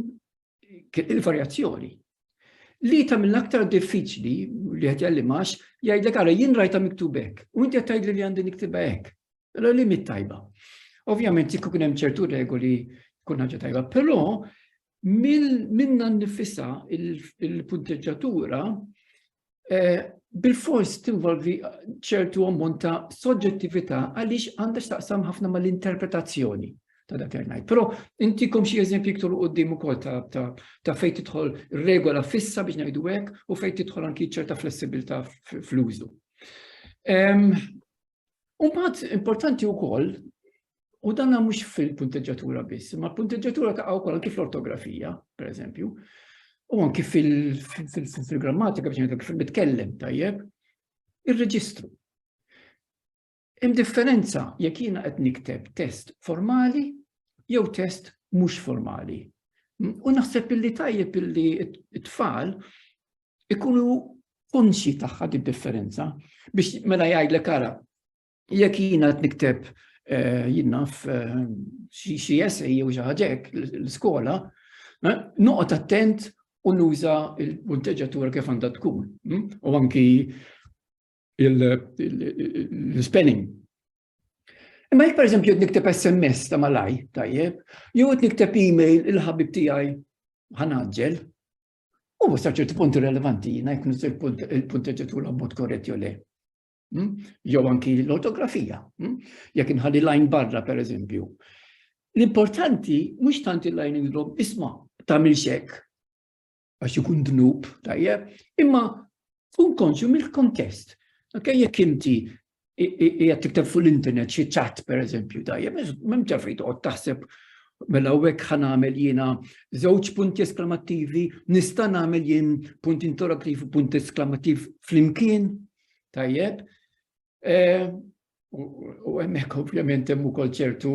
il-varjazzjoni. Li ta' mill aktar diffiċli li qed jallimax jgħidlek ara jien rajta miktub hekk u inti qed tgħidli li għandi niktibha hekk. Allora li mit tajba. Ovvjament jekk kien hemm ċertu regoli kun ħaġa tajba, però minna nifisa il-punteġġatura eh, bil-fors tinvolvi ċertu ammont ta' soġġettività għaliex għandha x'taqsam ħafna mal-interpretazzjoni ta' dak ngħid. Però intikom xi eżempji iktar qudiem ukoll ta' fejn tidħol regola fissa biex ngħidu hekk u fejn tidħol anki ċerta flessibilità fl-użu. Umbagħad importanti wkoll U danna mhux fil-punteġġatura biss, ma l-punteġġatura ta' wkoll anki fl-ortografija, per eżempju, u anki fil-grammatika biex ngħidlek fil-bitkellem tajjeb, ir-reġistru. Hemm differenza jekk jiena qed nikteb test formali jew test mhux formali. U naħseb illi tajjeb illi t-tfal ikunu konxi tagħha di differenza biex mela jgħidlek ara Jekk jiena qed nikteb eh, jinnaf eh, xi essej jew xi ħaġek l-iskola, eh, noqgħod attent u nuża il-punteġġatura kif għandha tkun. Hm? U anki l-spelling. Imma jek per eżempju nikteb SMS ta' malaj, tajjeb, jew nikteb e-mail il-ħabib tiegħi ħanaġġel, u sa ċerti punti relevanti jina jkun il-punteġġatura b'mod korrett jew le. Hmm? Jew anki l-ortografija. Hmm? Jekk inħalli lajn barra, per eżempju. L-importanti mhux tant il-lajn indrom, isma' tagħmel xek għax ikun dnub tajjeb, imma kun konxju mill-kontest. Ok, jekk inti jgħat tikteb fuq l-internet xi ċat per eżempju tajjeb, mem ġafri toqgħod taħseb mela hekk ħan għamel jiena żewġ punti esklamattivi, nista' nagħmel jien punt interattiv u punt esklamattiv flimkien, Tajjeb, eh, u hemmhekk ovvjament hemm ukoll ċertu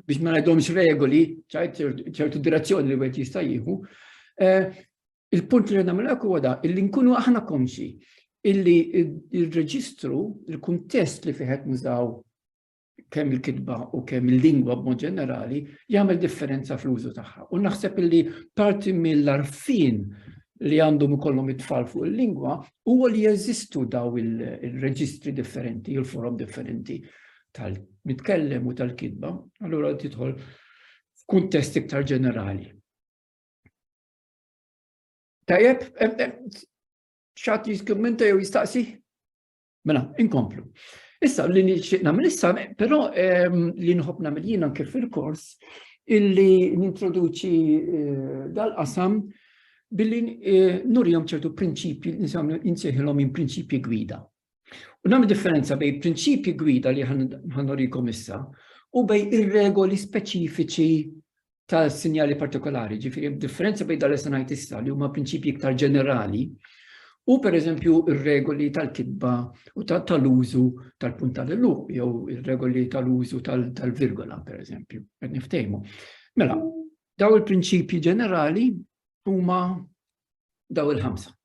biex ma ngħidhomx regoli, ċertu direzzjoni li wieħed jista' jieħu. Eh, il-punt li nagħmel hekk huwa da, illi nkunu aħna konxi illi il-reġistru, il-kuntest li fiħet nużaw kemm il-kitba u kemm il-lingwa b'mod ġenerali jagħmel differenza fl-użu tagħha. U naħseb li parti mill-arfin li għandhom ikollhom it-tfal fuq il-lingwa huwa li jeżistu daw il-reġistri differenti, il-forom differenti tal-mitkellem u tal-kitba, allura tidħol f'kuntest iktar ġenerali. Tajjeb, xatt jiskummenta jew jistaqsi? Mela, inkomplu. Issa, li nixtieq nagħmel issa, però ehm, li nħobb nagħmel jien anke fil-kors, illi nintroduċi eh, dal-qasam billi eh, nurjom ċertu prinċipji, nisamlu insejħilhom minn prinċipji gwida. U nagħmel differenza bej prinċipji gwida li ħanurikom issa u bej ir-regoli speċifiċi ta' sinjali partikolari, ġifiri differenza bejn dal sanajt issa li huma prinċipji iktar ġenerali u per eżempju ir-regoli tal-kitba u tal-użu tal-punt tal-luq jew ir-regoli tal-użu tal-virgola per eżempju, qed niftejmu. Mela, daw il-prinċipji ġenerali huma daw il-ħamsa.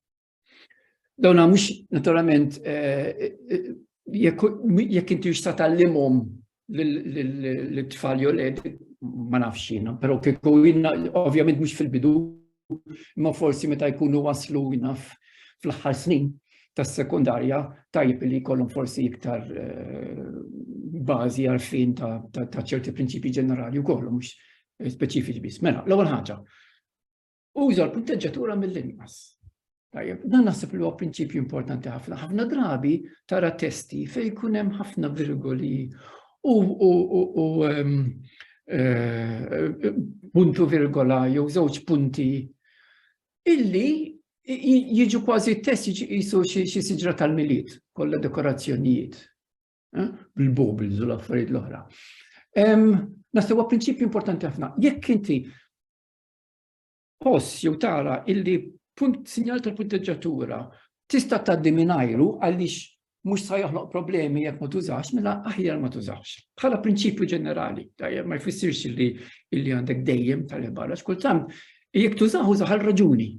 Dawna mhux naturalment eh, eh, jekk inti jista' tallimhom l-tfal jew led ma nafx jiena, però kieku jiena ovvjament mhux fil-bidu, imma forsi meta jkunu waslu naf fl-aħħar snin tas-sekundarja tajjeb li jkollhom forsi iktar eh, bażi għarfien ta' ċerti prinċipji ġenerali u kollu mhux speċifiċi biss. Mela, l-ewwel ħaġa, Uża l-punteġġatura mill-inqas. Tajjeb, dan naħseb li huwa prinċipju importanti ħafna. Ħafna drabi tara testi fejn jkun hemm ħafna virgoli u ehm, eh, puntu virgola jew żewġ punti illi jiġu kważi test jiġu jisu xi siġra tal-miliet, kollha dekorazzjonijiet, eh, bil-bobl, zul affarijiet l-oħra. Ehm, Naħseb huwa prinċipju importanti ħafna. Jekk inti Tħoss jew tara illi punt sinjal tal-punteġġatura tista' tgħaddi mingħajru għaliex mhux sa joħloq problemi jekk ma tużax, mela aħjar ma tużax. Bħala prinċipju ġenerali, tajjeb ma jfissirx li illi għandek dejjem tal-barra, x'kultant jekk tużaħ użaħ għal raġuni.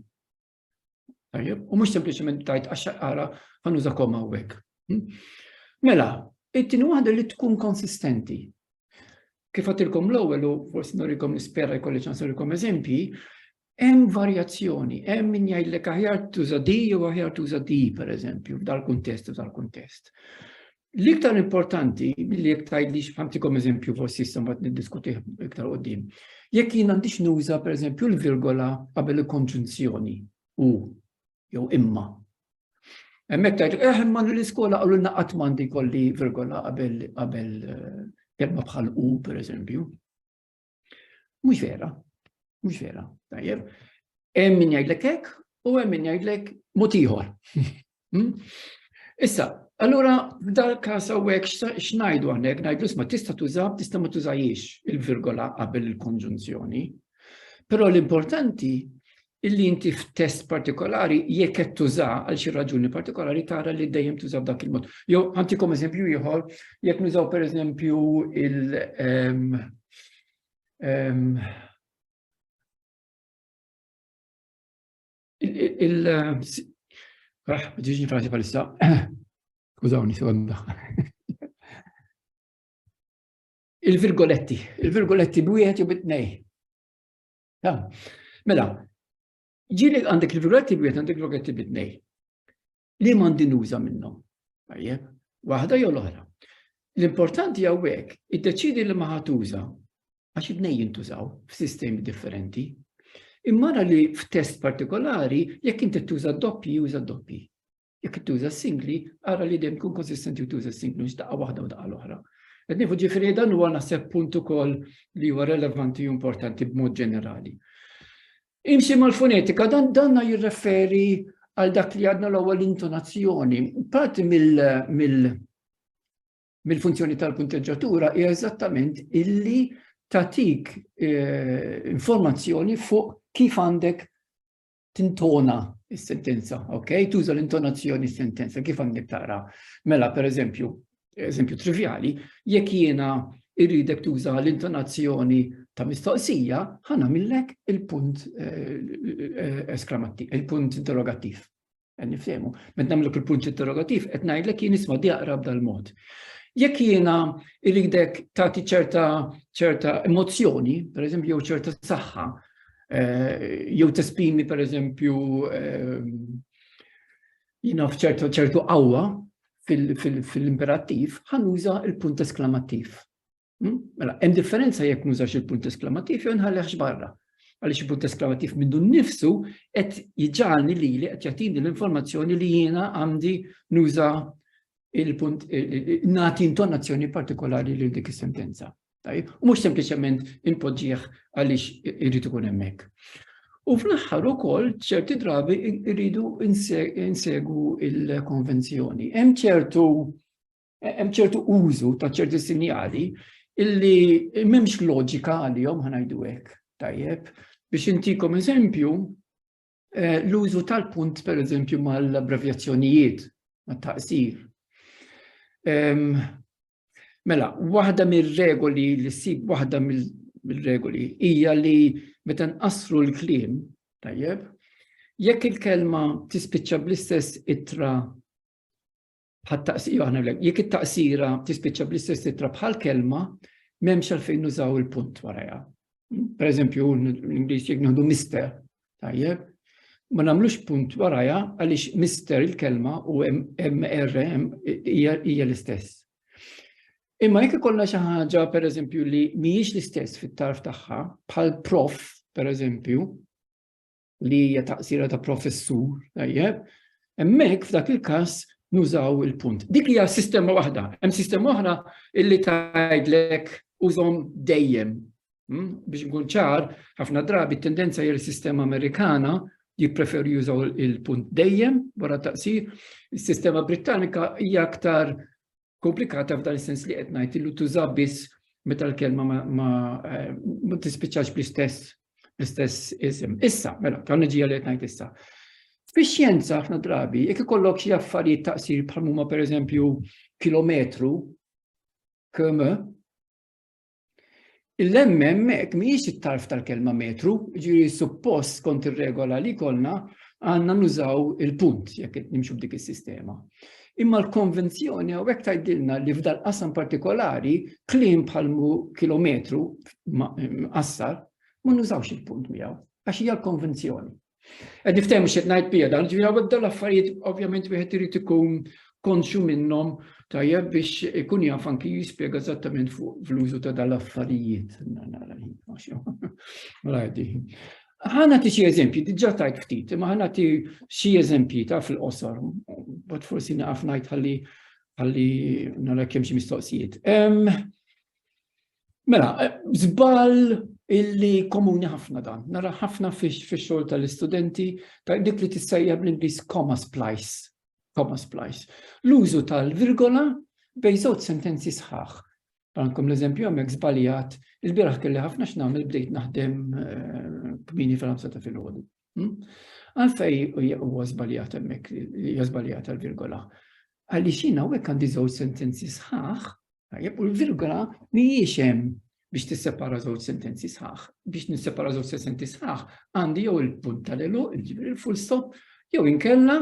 Tajjeb, u mhux sempliċement tajt għax-xaqara ħanuża koma hawnhekk. Hm? Mela, it-tieni waħda li tkun konsistenti. Kif għatilkom l-ewwel u forsi norikom nispera jkolli ċans norikom eżempji, hemm varjazzjoni, hemm min jgħidlek aħjar tuża di jew aħjar tuża di pereżempju f'dal-kuntest u dal-kuntest. L-iktar importanti, billi jek tajdix, għamtikom eżempju forsi jistam għat niddiskuti iktar għoddim. Jek jien għandix nuża, per eżempju, l-virgola qabel il-konġunzjoni u jew imma. Emmek tajdu, eħem eh, man l-iskola għallu naqat mandi kolli virgola qabel eh, kelma bħal u, per eżempju. Mhux vera, mhux vera, tajjeb. Hemm min jgħidlek hekk u hemm min jgħidlek mod ieħor. Hmm? Issa, allura f'dal każ hawnhekk x'ngħidu hawnhekk ngħidlu ma tista' tuża tista' ma tużajiex il-virgola qabel il-konġunzjoni. Però l-importanti illi inti f'test partikolari jekk qed tuża għal xi raġuni partikolari tara li dejjem tuża b'dak il-mod. Jew ħantikom eżempju ieħor, jekk nużaw pereżempju il- ehm, ehm, il- ah, ġiġni frażi palissa, użawni sekonda. Il-virgoletti, il-virgoletti b'wieħed jew bit-tnej. Mela, ġili għandek il-virgoletti b'wieħed għandek il-virgoletti b'tnej. Li m'għandi nuża minnhom. Tajjeb, waħda jew l-oħra. L-importanti hawnhekk iddeċidi li ma ħatuża għax id-nej jintużaw f'sistemi differenti. Imma li f'test partikolari jekk inti tuża doppji juża doppji. Jekk tuża singli, ara li dejjem tkun konsistenti u tuża singli mhux daqqa waħda u daqqa l-oħra. Qed nieħu ġifieri dan huwa naħseb punt ukoll li huwa relevanti u importanti b'mod ġenerali. Imxi mal-fonetika dan danna jirreferi għal dak li għadna l-ewwel intonazzjoni. Parti mill-funzjoni tal-punteġġatura hija eżattament illi tatik eh, informazzjoni fuq kif għandek tintona s-sentenza, ok? Tuża l-intonazzjoni s-sentenza, kif għandek tara? Mela, per eżempju, eżempju trivjali, jekk jiena irridek tuża l-intonazzjoni ta' mistoqsija, ħana millek il-punt eh, eh, esklamati, il-punt interrogativ. Eh, Nifsemu, met namlek il-punt interrogativ, et najdlek jien isma di aqrab dal-mod. Jekk jiena irridek tagħti ċerta ċerta emozzjoni, per eżempju, ċerta saħħa, jew tespimi per eżempju jina fċertu ċertu qawwa fil-imperattiv ħanuża il-punt esklamattiv. Hmm? Mela, hemm differenza jekk nużax il-punt esklamattiv jew nħallihx barra. Għaliex il-punt esklamattiv minnu nnifsu qed jiġġalni li li qed jagħtini l-informazzjoni li jiena għandi nuża il-punt nagħti intonazzjoni partikolari lil dik is-sentenza. Tajjeb, u mhux sempliċement inpoġġih għaliex irid ikun hemmhekk. U fl-aħħar ukoll ċerti drabi rridu insegu il-konvenzjoni. Hemm ċertu hemm ċertu użu ta' ċerti sinjali illi m'hemmx loġika għalihom ħanajdu hekk. Tajjeb, biex intikom eżempju, Eh, l-użu tal-punt, per eżempju, mal-abbrevjazzjonijiet, mat-taqsir. Mela, waħda mir-regoli li ssib waħda mill-regoli hija li meta nqassru l-kliem, tajjeb, jekk il-kelma tispiċċa bl-istess itra Bħat taqsira aħna lek, jekk it-taqsira tispiċċa bl-istess titra bħal kelma, m'hemmx għalfejn nużaw il-punt warajha. Per eżempju, l-Ingliż jekk nieħdu mister, tajjeb, ma nagħmlux punt warajha għaliex mister il-kelma u MR hija l-istess. Imma jekk ikollna xi ħaġa pereżempju li mhijiex l-istess fit-tarf tagħha, bħal prof, pereżempju, li hija taqsira ta' professur, tajjeb, hemmhekk f'dak il-każ nużaw il-punt. Dik hija sistema waħda, hemm sistema oħra illi tgħidlek użhom dejjem. Hmm? Biex nkun ċar, ħafna drabi t-tendenza hija sistema Amerikana jippreferu jużaw il-punt dejjem wara taqsir. Is-sistema Britannika hija aktar komplikata f'dan is-sens li qed ngħid illu tuża biss meta l-kelma ma eh, tispiċċax bl-istess l-istess isem. Issa, mela, ta' nġija li qed ngħid issa. Fix-xjenza ħafna drabi, jekk ikollok xi affarijiet taqsir bħal huma pereżempju kilometru, km, Il-lemmem hekk mhijiex it-tarf tal-kelma metru, ġiri suppost kont ir-regola li kollna għandna nużaw il-punt jekk nimxu b'dik is-sistema. Imma l-konvenzjoni hawnhekk tgħidilna li f'dal qasam partikolari kliem bħal kilometru qassar ma nużawx il-punt miegħu għax hija l-konvenzjoni. Għed niftem xed najt bija dan, ġviri għawek dal affarijiet ovvjament wieħed irid ikun konxu minnhom tajjeb biex ikun jaf anki jispjega eżattament fuq fl-użu ta' dal affarijiet. Ħana ti xie eżempji, diġa tajt ftit, ma ħana ti xie eżempji ta' fil-qosor, bat forsi naqaf najt ħalli ħalli nara kemm xi mistoqsijiet. Mela, zbal illi komuni ħafna dan, nara ħafna fix-xogħol tal-istudenti ta' dik li tissejja bl-Ingliż comma splice. Comma splice. L-użu tal-virgola bej żewġ sentenzi sħaħ. Għankom l-eżempju għamek zbaljat, il-biraħ kelli ħafna x'nagħmel bdejt naħdem eh, kmini fil-ħamsa ta' fil-ħodu. Hmm? Għalfej huwa żbaljat hemmhekk li żbaljat għall-virgola. Għaliex jien hawnhekk għandi żewġ sentenzi sħaħ, tajjeb u l-virgola mhijiex hemm biex tissepara żewġ sentenzi sħaħ. Biex nissepara żewġ sentenzi sħaħ għandi jew il-punt tal-elu, ġifieri il-full stop, jew inkella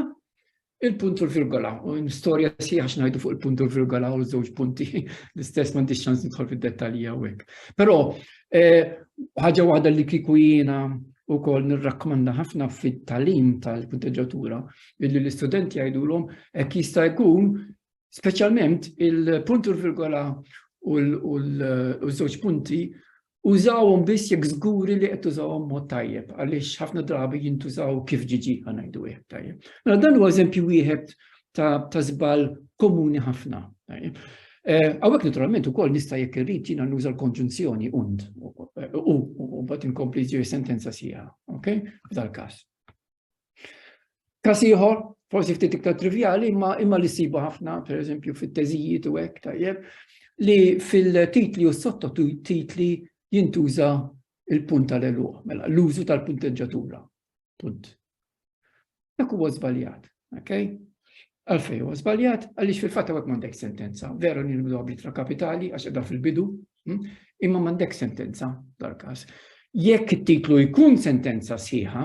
Il-punt u l-virgola, u storja sieħa xnajdu fuq il-punt u l-virgola u żewġ punti, l-istess m'għandix ċans nidħol fid-dettalji hawnhekk. Però eh, ħaġa waħda li kieku jiena wkoll nirrakkomanda ħafna fit-talim tal-punteġġatura illi l-istudenti jgħidulhom hekk jista' jkun speċjalment il-punt u l-virgola u l-żewġ punti Użawhom biss jekk żguri li qed tużawhom mod tajjeb għaliex ħafna drabi jintużaw kif ġiġi ngħidu wieħed tajjeb. Mela dan huwa eżempju wieħed ta' żball komuni ħafna. Eh, Għawek naturalment ukoll nista' jekk irrid jiena nuża l-konġunzjoni und u mbagħad inkompli ġiri sentenza sieħa, ok? F'dal-każ. Każ ieħor, forsi ftit iktar trivjali, imma imma li sibu ħafna, per eżempju, fit-teżijiet u hekk tajjeb, li fil-titli u sottotitli jintuża il-punt tal-eluq, mela l-użu tal-punteġġatura. Punt. Dak huwa żbaljat, ok? Għalfejn huwa żbaljat? Għaliex fil-fatt hawnhekk m'għandek sentenza. Veru li nibdew b'littra kapitali għax qiegħda fil-bidu, hm? imma m'għandek sentenza dal-każ. Jekk it-titlu jkun sentenza sħiħa,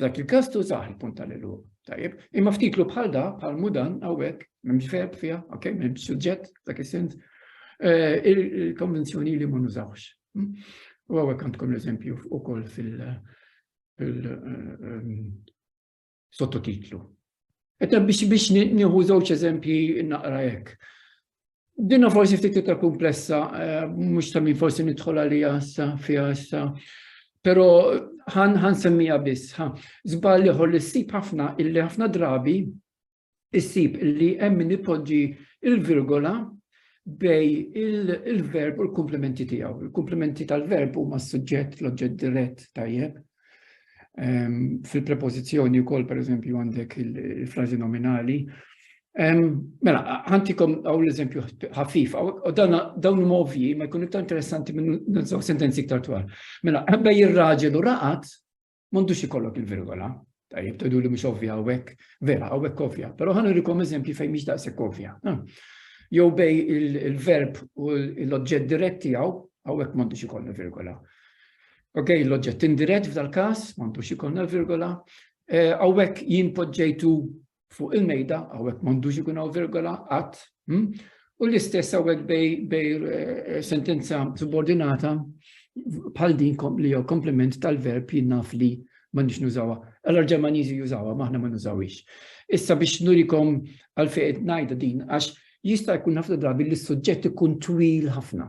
dak il-każ tużaħ il-punt tal-eluq. Tajjeb, imma ftitlu bħal da, bħal mudan, għawek, memx verb fija, ok, memx suġġett, dak il-sens, eh, il-konvenzjoni li ma nużawx. Hmm? U għawek għandkom l-eżempju u koll fil- eh, ehm, sottotitlu. Etta biex biex nieħu żewġ eżempji naqra hekk. Dinna forsi ftit iktar komplessa, eh, mhux ta' min forsi nidħol għalija issa fiha issa. Però ħan ħan semmija biss, ħa żball ieħor li ssib ħafna illi ħafna drabi issib li hemm min ipoġġi l-virgola bej il-verb u l-komplementi tiegħu. Il-komplementi tal-verb huma s-suġġett, l-oġġett dirett tajjeb. Ehm, fil-prepożizzjoni wkoll pereżempju għandek il-frażi nominali. Ehm, mela, ħantikom għaw l-eżempju ħafif, u dawn huma ovvji, ma jkun iktar interessanti minn sentenzi iktar twal. Mela, bej ir-raġel u raqat, M'għandux ikollok il-virgola. Tajjeb, tgħidu li mhux ovvja hawnhekk, vera hawnhekk ovvja, però ħan irikom eżempji fejn mhix daqshekk ovvja. Jew bej il-verb u l-oġġett dirett tiegħu hawnhekk m'għandux ikollna virgola. Ok, l-oġġett indirett f'dal-każ m'għandux ikollna virgola. Hawnhekk eh, jien poġġejtu fuq il-mejda, għawek mandux ikun għaw virgola, għat, hm? u l-istess għawek bej eh, sentenza subordinata bħal din li jew komplement tal-verb jinnaf li ma nix nużawa. Allora ġermanizi jużawa, maħna ma nużawix. Issa biex nurikom għal-fejt najda din, għax jista' jkun ħafna drabi li s-suġġett ikun twil ħafna.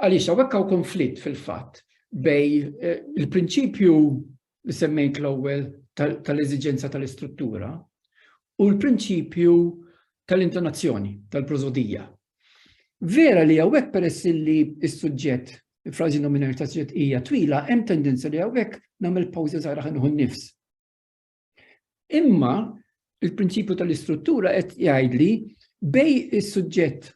Għaliex hawnhekk hawn konflitt fil-fatt bej eh, il-prinċipju li semmejt l-ewwel tal-eżiġenza tal-istruttura u l-prinċipju tal-intonazzjoni, tal-prozodija. Vera li għawek peress li s-sujġet, frazi nominali ta' sujġet hija twila, hemm tendenza li għawek namel pawza zaħra ħanħu nifs. Imma il-prinċipju tal-istruttura qed jgħidli bej is-suġġett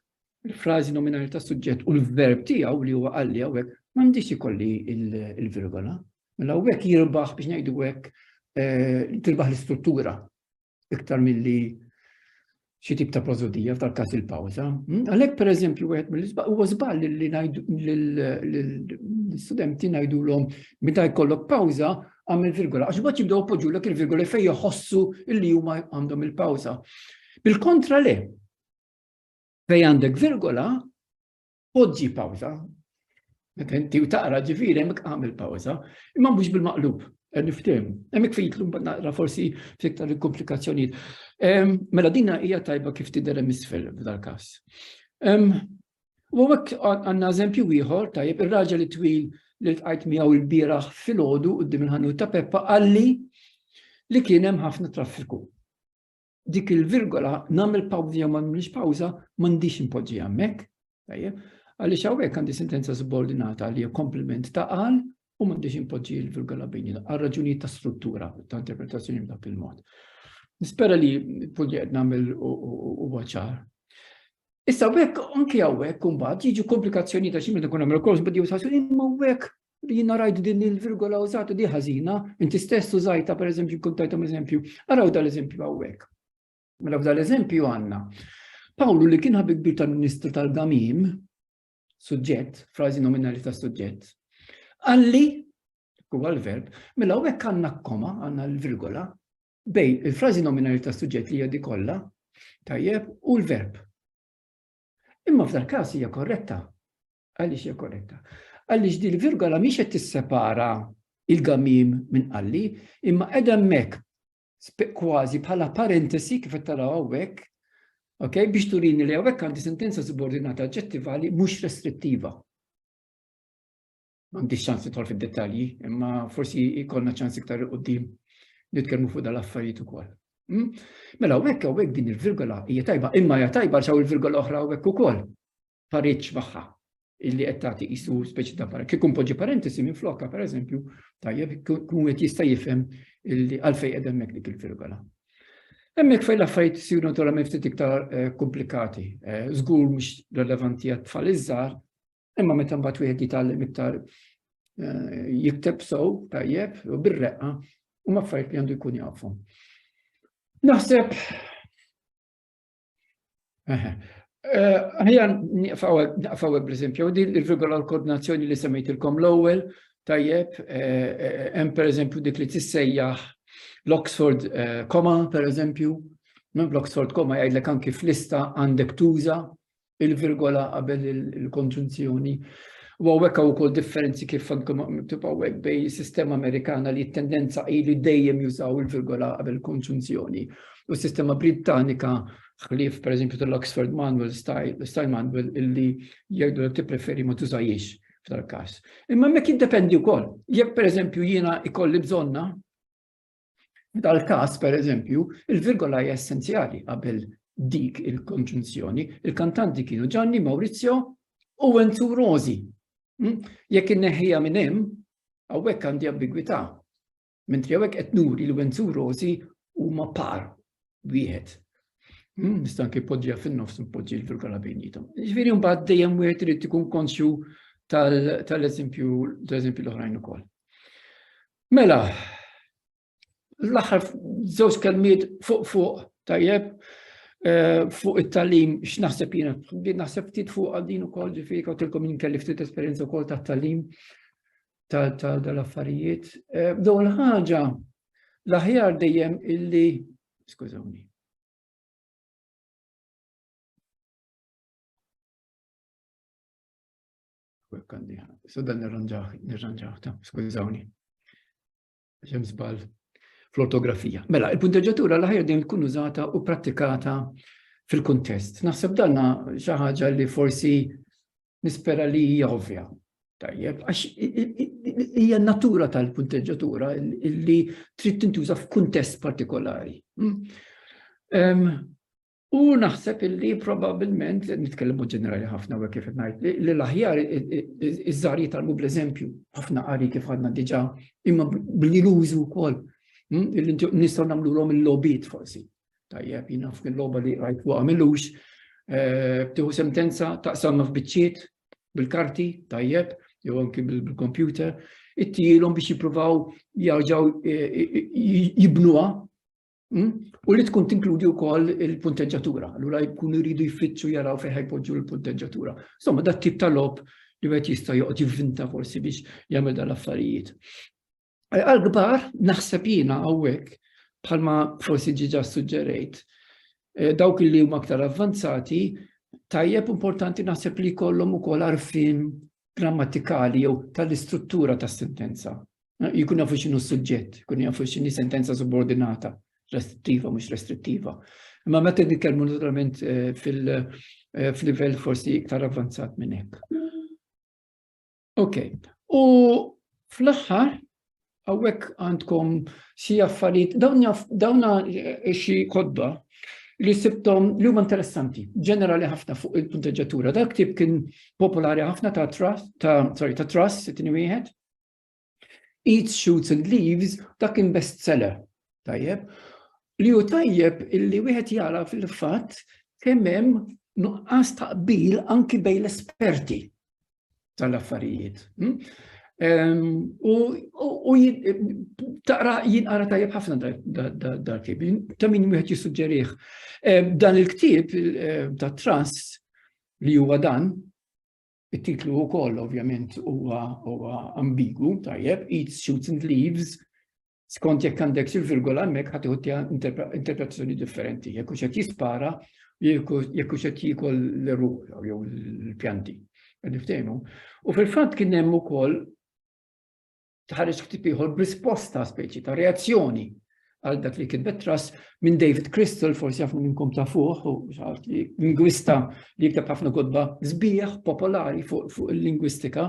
il-frażi nominali ta' suġġett u l-verb tiegħu li huwa qalli hawnhekk m'għandix ikolli il-virgola. Mela hawnhekk jirbaħ biex ngħidu hekk eh, tirbaħ l-istruttura iktar milli xi tip ta' prosodija f'tal każ il-pawża. Hmm? Għalhekk pereżempju wieħed mill-isbaq huwa żball li ngħidu l-istudenti ngħidulhom meta jkollok pawża għamil virgola għax bad jibdew poġġulek il-virgola fejn joħossu li huma għandhom il-pawża. Bil-kontra le. Fejn għandek virgola, poġġi pawża, meta inti u taqra ġifieri hemmhekk għamel pawża, imma mhux bil-maqlub, qed niftim. Hemmhekk fejtlu mbagħad naqra forsi fiktar il-komplikazzjonijiet. Mela dinha hija tajba kif tidher hemm isfel f'dal-każ. U hekk għandna eżempju ieħor tajjeb ir-raġel twil li tqajt miegħu l-bieraħ filgħodu quddiem il-ħanut ta' Peppa qalli li kien hemm ħafna traffiku. dik il-virgola nagħmel pawża jew ma nagħmilx pawża m'għandix impoġġi hemmhekk, tajjeb, għaliex hawnhekk għandi sentenza subordinata li hija komplement ta' qal u m'għandix impoġġi l-virgola bejn għal raġunijiet ta' struttura ta' interpretazzjoni b'dak il-mod. Nispera li punti qed nagħmel u ċar. Issa hekk anke hawnhekk imbagħad jiġu komplikazzjoni ta' xi meta nkun nagħmel kors bad jew imma hekk Jina rajt din il-virgola użata di ħażina, inti stess użajta per eżempju kuntajtom eżempju. Araw dal-eżempju għawek. Mela dal-eżempju għanna. Pawlu li kien ħabib kbir tal-Ministru tal-Gamim, suġġett, frażi nominali ta' suġġett, għalli, huwa l-verb, mela għawek għanna koma, għanna l-virgola, bej il-frażi nominali ta' suġġett li jadi kollha, tajjeb, u l-verb. Imma f'dal każ hija korretta, Għaliex hija korretta? Għaliex din virgola mhix qed tissepara il-gamim minn qalli, imma qiegħda hemmhekk kważi bħala parentesi kif qed taraw hawnhekk, okay, biex turini li hawnhekk għandi sentenza subordinata aġġettivali mhux restrittiva. M'għandix ċans titħol fid-dettalji, imma forsi jkollna ċans iktar qudiem nitkellmu fuq dal-affarijiet ukoll. Hmm? Mela hawnhekk hawnhekk din il-virgola hija tajba, imma hija tajba xaw il-virgola oħra hawnhekk ukoll. pareġġ magħha illi qed tagħti qisu speċi ta' para. Kieku npoġġi parentesi minn flokka pereżempju, tajjeb kun qed jista' jifhem illi għalfejn qed hemmhekk dik il-virgola. Hemmhekk fejn l-affarijiet isiru naturalment ftit iktar eh, komplikati. Eh, żgur mhux relevanti għat tfal iż-żgħar, imma meta mbagħad wieħed jitgħallem iktar eh, jikteb sow tajjeb u bir-reqqa u affarijiet li għandu jkun jafhom. Naħseb Ħajja naqfaw bl-eżempju, din il-virgola l-koordinazzjoni li semmejtilkom l-ewwel, tajjeb, hemm pereżempju dik li tissejjaħ l-Oxford koma pereżempju, minn l-Oxford koma jgħidlek anki f'lista għandek tuża il-virgola qabel il-konġunzjoni. U hawnhekk hawn ukoll differenzi kif għandkom miktub hawnhekk bejn is-sistema Amerikana li t-tendenza hi li dejjem jużaw il-virgola qabel il-konġunzjoni. U s-sistema Britannika ħlief per eżempju tal-Oxford Manual Style, Style Manual illi jgħidu li tippreferi ma tużajiex f'tal-każ. Imma mek jiddependi wkoll. Jekk per eżempju jiena ikolli bżonna Dal-kas, per eżempju, il-virgola hija essenzjali qabel dik il-konġunzjoni. Il-kantanti kienu Gianni Maurizio u Enzu Rosi. Hm? Jekk inneħħija minn hemm, hawnhekk għandi ambigwità. Mentri hawnhekk qed nuri li Wenzu u Rosi huma par wieħed. Hmm, nista' anke poġġija fin-nofs npoġġi l-virgola bejnietom. Ġifieri mbagħad dejjem wieħed irid ikun konxju tal-eżempju tal-eżempju l-oħrajn ukoll. Mela, l-aħħar żewġ kelmiet fuq fuq tajjeb eh, fuq it-talim x'naħseb jiena naħseb ftit fuq għal din ukoll ġifieri kawtilkom jien kelli ftit esperjenza wkoll tat-talim tal-affarijiet. Eh, Dawn il-ħaġa l-aħjar dejjem illi, skużawni, Kwek għandi, so dan nirranġaħ, nirranġaħ ta, skużawni. Xem żball fl-ortografija. Mela, il-punteġġatura l-aħjar din tkun użata u prattikata fil-kuntest. Naħseb danna xi ħaġa li forsi nispera li hija ovvja. Tajjeb, għax hija natura tal-punteġġatura li trid tintuża f'kuntest partikolari. Hmm? U naħseb illi probabilment, nitkellmu ġenerali ħafna u kif ngħid, li l-aħjar iż-żar jitalmu bl-eżempju, ħafna qari kif għadna diġà, imma billi l-użu wkoll. Hmm? Nistgħu nagħmluhom il-lobit forsi. Tajjeb, jina f'kien logħba li rajt fuq għamilux, eh, btiħu sentenza taqsamma f'biċċiet bil-karti, tajjeb, jew anki bil-kompjuter, it-tielhom biex jippruvaw jarġgħu eh, eh, jibnuha Hmm? U li tkun tinkludi wkoll il-punteġġatura, allura jkunu jridu jfittxu jaraw fejn ħajpoġġu l-punteġġatura. Insomma, dat tip ta' lob li wieħed jista' joqgħod jivvinta forsi biex jagħmel dan l-affarijiet. Għal kbar naħseb jiena hawnhekk bħalma forsi ġiġa suġġerejt. Eh, dawk li huma aktar avvanzati, tajjeb importanti naħseb li kollhom ukoll għarfien grammatikali jew tal-istruttura tas-sentenza. jkun jafu x'inhu s-suġġett, jkun jafu x'inhi sentenza subordinata, restrittiva, mhux restrittiva. Imma meta nitkellmu naturalment eh, eh, fil-livell forsi iktar avvanzat minn hekk. Ok, u fl-aħħar għawek għandkom xi affarijiet, dawna eh, xi kodba li sibtom li huma interessanti, ġenerali ħafna fuq il-punteġġatura. Dak tip kien popolari ħafna ta' trust, ta' sorry, ta' trust, it-tini wieħed, Eat Shoots and Leaves, dak kien bestseller, tajjeb, li hu tajjeb illi wieħed jara fil-fatt kemm hemm nuqqas taqbil anki bejn l-esperti tal-affarijiet. Hm? U taqra jinqara tajjeb ħafna dal-kib, ta' min wieħed jissuġġerih. Dan il-ktieb ta' trust li huwa dan, It-titlu wkoll ovvjament huwa huwa ambigu, tajjeb, eat shoots and leaves, skont jekk għandek xi virgola hemmhekk ħadd iħuttiha interpretazzjoni differenti, jekk hux qed jispara, jekk hux qed jiekol l-ruħ jew l-pjanti. U fil-fatt kien hemm ukoll tħares ktib ieħor b'risposta speċi ta' reazzjoni għal dak li kitbet tras minn David Crystal, forsi ħafna minnkom ta' fuq, u xaħat li lingwista li jikteb ħafna kodba zbieħ popolari fuq il-lingwistika,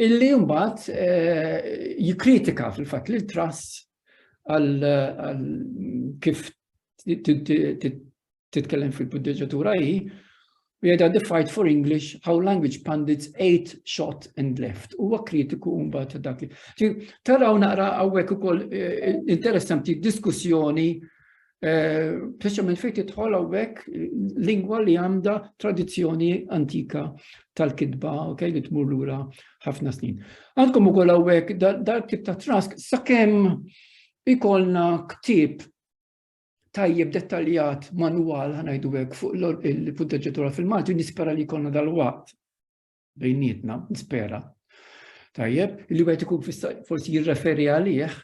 illi jumbat eh, jikritika fil-fat li l-tras għal kif titkellem fil-puddeġatura hi, u jgħidha the fight for English, how language pundits ate, shot and left. Huwa kritiku mbagħad ta' dak li. Taraw naqra hawnhekk ukoll eh, interessanti diskussjoni eh, Speċjalment fejn tidħol hawnhekk lingwa li għandha tradizzjoni antika tal-kitba, ok, li tmur lura ħafna snin. Għandkom ukoll hawnhekk dal-tip ta' trask sakemm ikolna ktib tajjeb dettaljat manwal ħanajdu hekk fuq il-punteġġatura fil-Malti nispera li jkollna dal-waqt bejnietna, nispera. Tajjeb, li wieħed ikun forsi jirreferi għalih,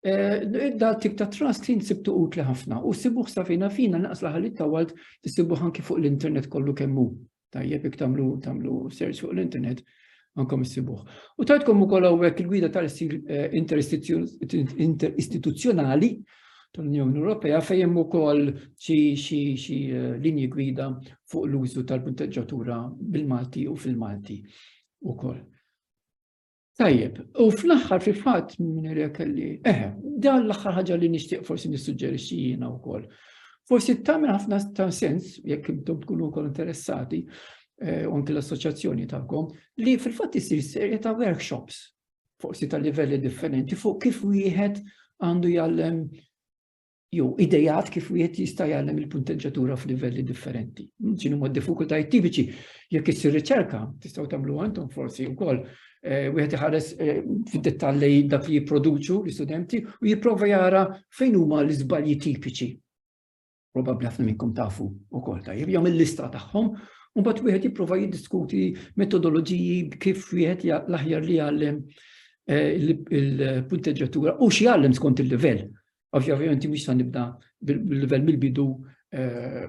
eh, da tip ta' trust jinsibtu utli ħafna u sibuħ safina fina naqas laħalit tawalt tisibuħ anki fuq l-internet kollu kemmu. Tajjeb jekk tagħmlu tagħmlu search fuq l-internet ankom issibuh. U tajtkom ukoll hawnhekk il-gwida tal-istil eh, interistituzzjonali tal-Unjoni Ewropea fejn hemm ukoll xi eh, linji gwida fuq l-użu tal-punteġġatura bil-Malti u fil-Malti ukoll. Tajjeb, u fl-aħħar fi fatt minn irek li, eħe, dan l-aħħar ħaġa li nixtieq forsi nissuġġerixxi jiena wkoll. Forsi tagħmel ħafna ta' sens, jekk intom tkunu wkoll interessati, eh, u anke l-assoċjazzjoni tagħkom, li fil-fatt isir serje ta' workshops, forsi ta' livelli differenti, fuq kif wieħed għandu jgħallem jew idejat kif wieħed jista' jgħallem il-punteġġatura f'livelli differenti. X'inhu ma' diffikultajiet tipiċi jekk issir riċerka, tistgħu tagħmlu għandhom forsi wkoll eh, wieħed iħares eh, fid-dettall li dak li jipproduċu l-istudenti u jipprova jara fejn huma l-iżbalji tipiċi. Probabbli ħafna minnkom tafu wkoll tajjeb, jagħmel lista tagħhom u mbagħad wieħed jipprova jiddiskuti metodoloġiji kif wieħed l-aħjar li jgħallem eh, il-punteġġatura u xi jgħallem skont il-livell Ovvjament mhux sa nibda bil-livell mill-bidu eh,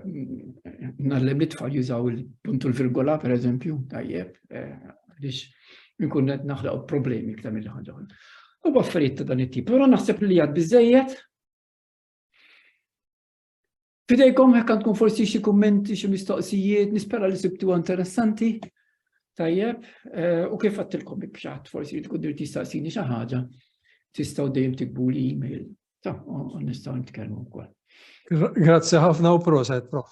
nallem li tfal jużaw il-puntu l-virgola per eżempju, tajjeb, eh, għaliex nkun qed naħlaq problemi iktar mill ħaġa. U affarijiet ta' dan it-tip. Però naħseb li għad biżejjed Fidejkom hekk għandkom forsi xi kummenti, xi mistoqsijiet, nispera li sibtu interessanti. Tajjeb, eh, u kif għattilkom bibxat, forsi tkun dir tistaqsini xi ħaġa, tistgħu dejjem tikbu li email. Ta, u nistgħu nitkellmu wkoll. Grazzi ħafna u proset, prof.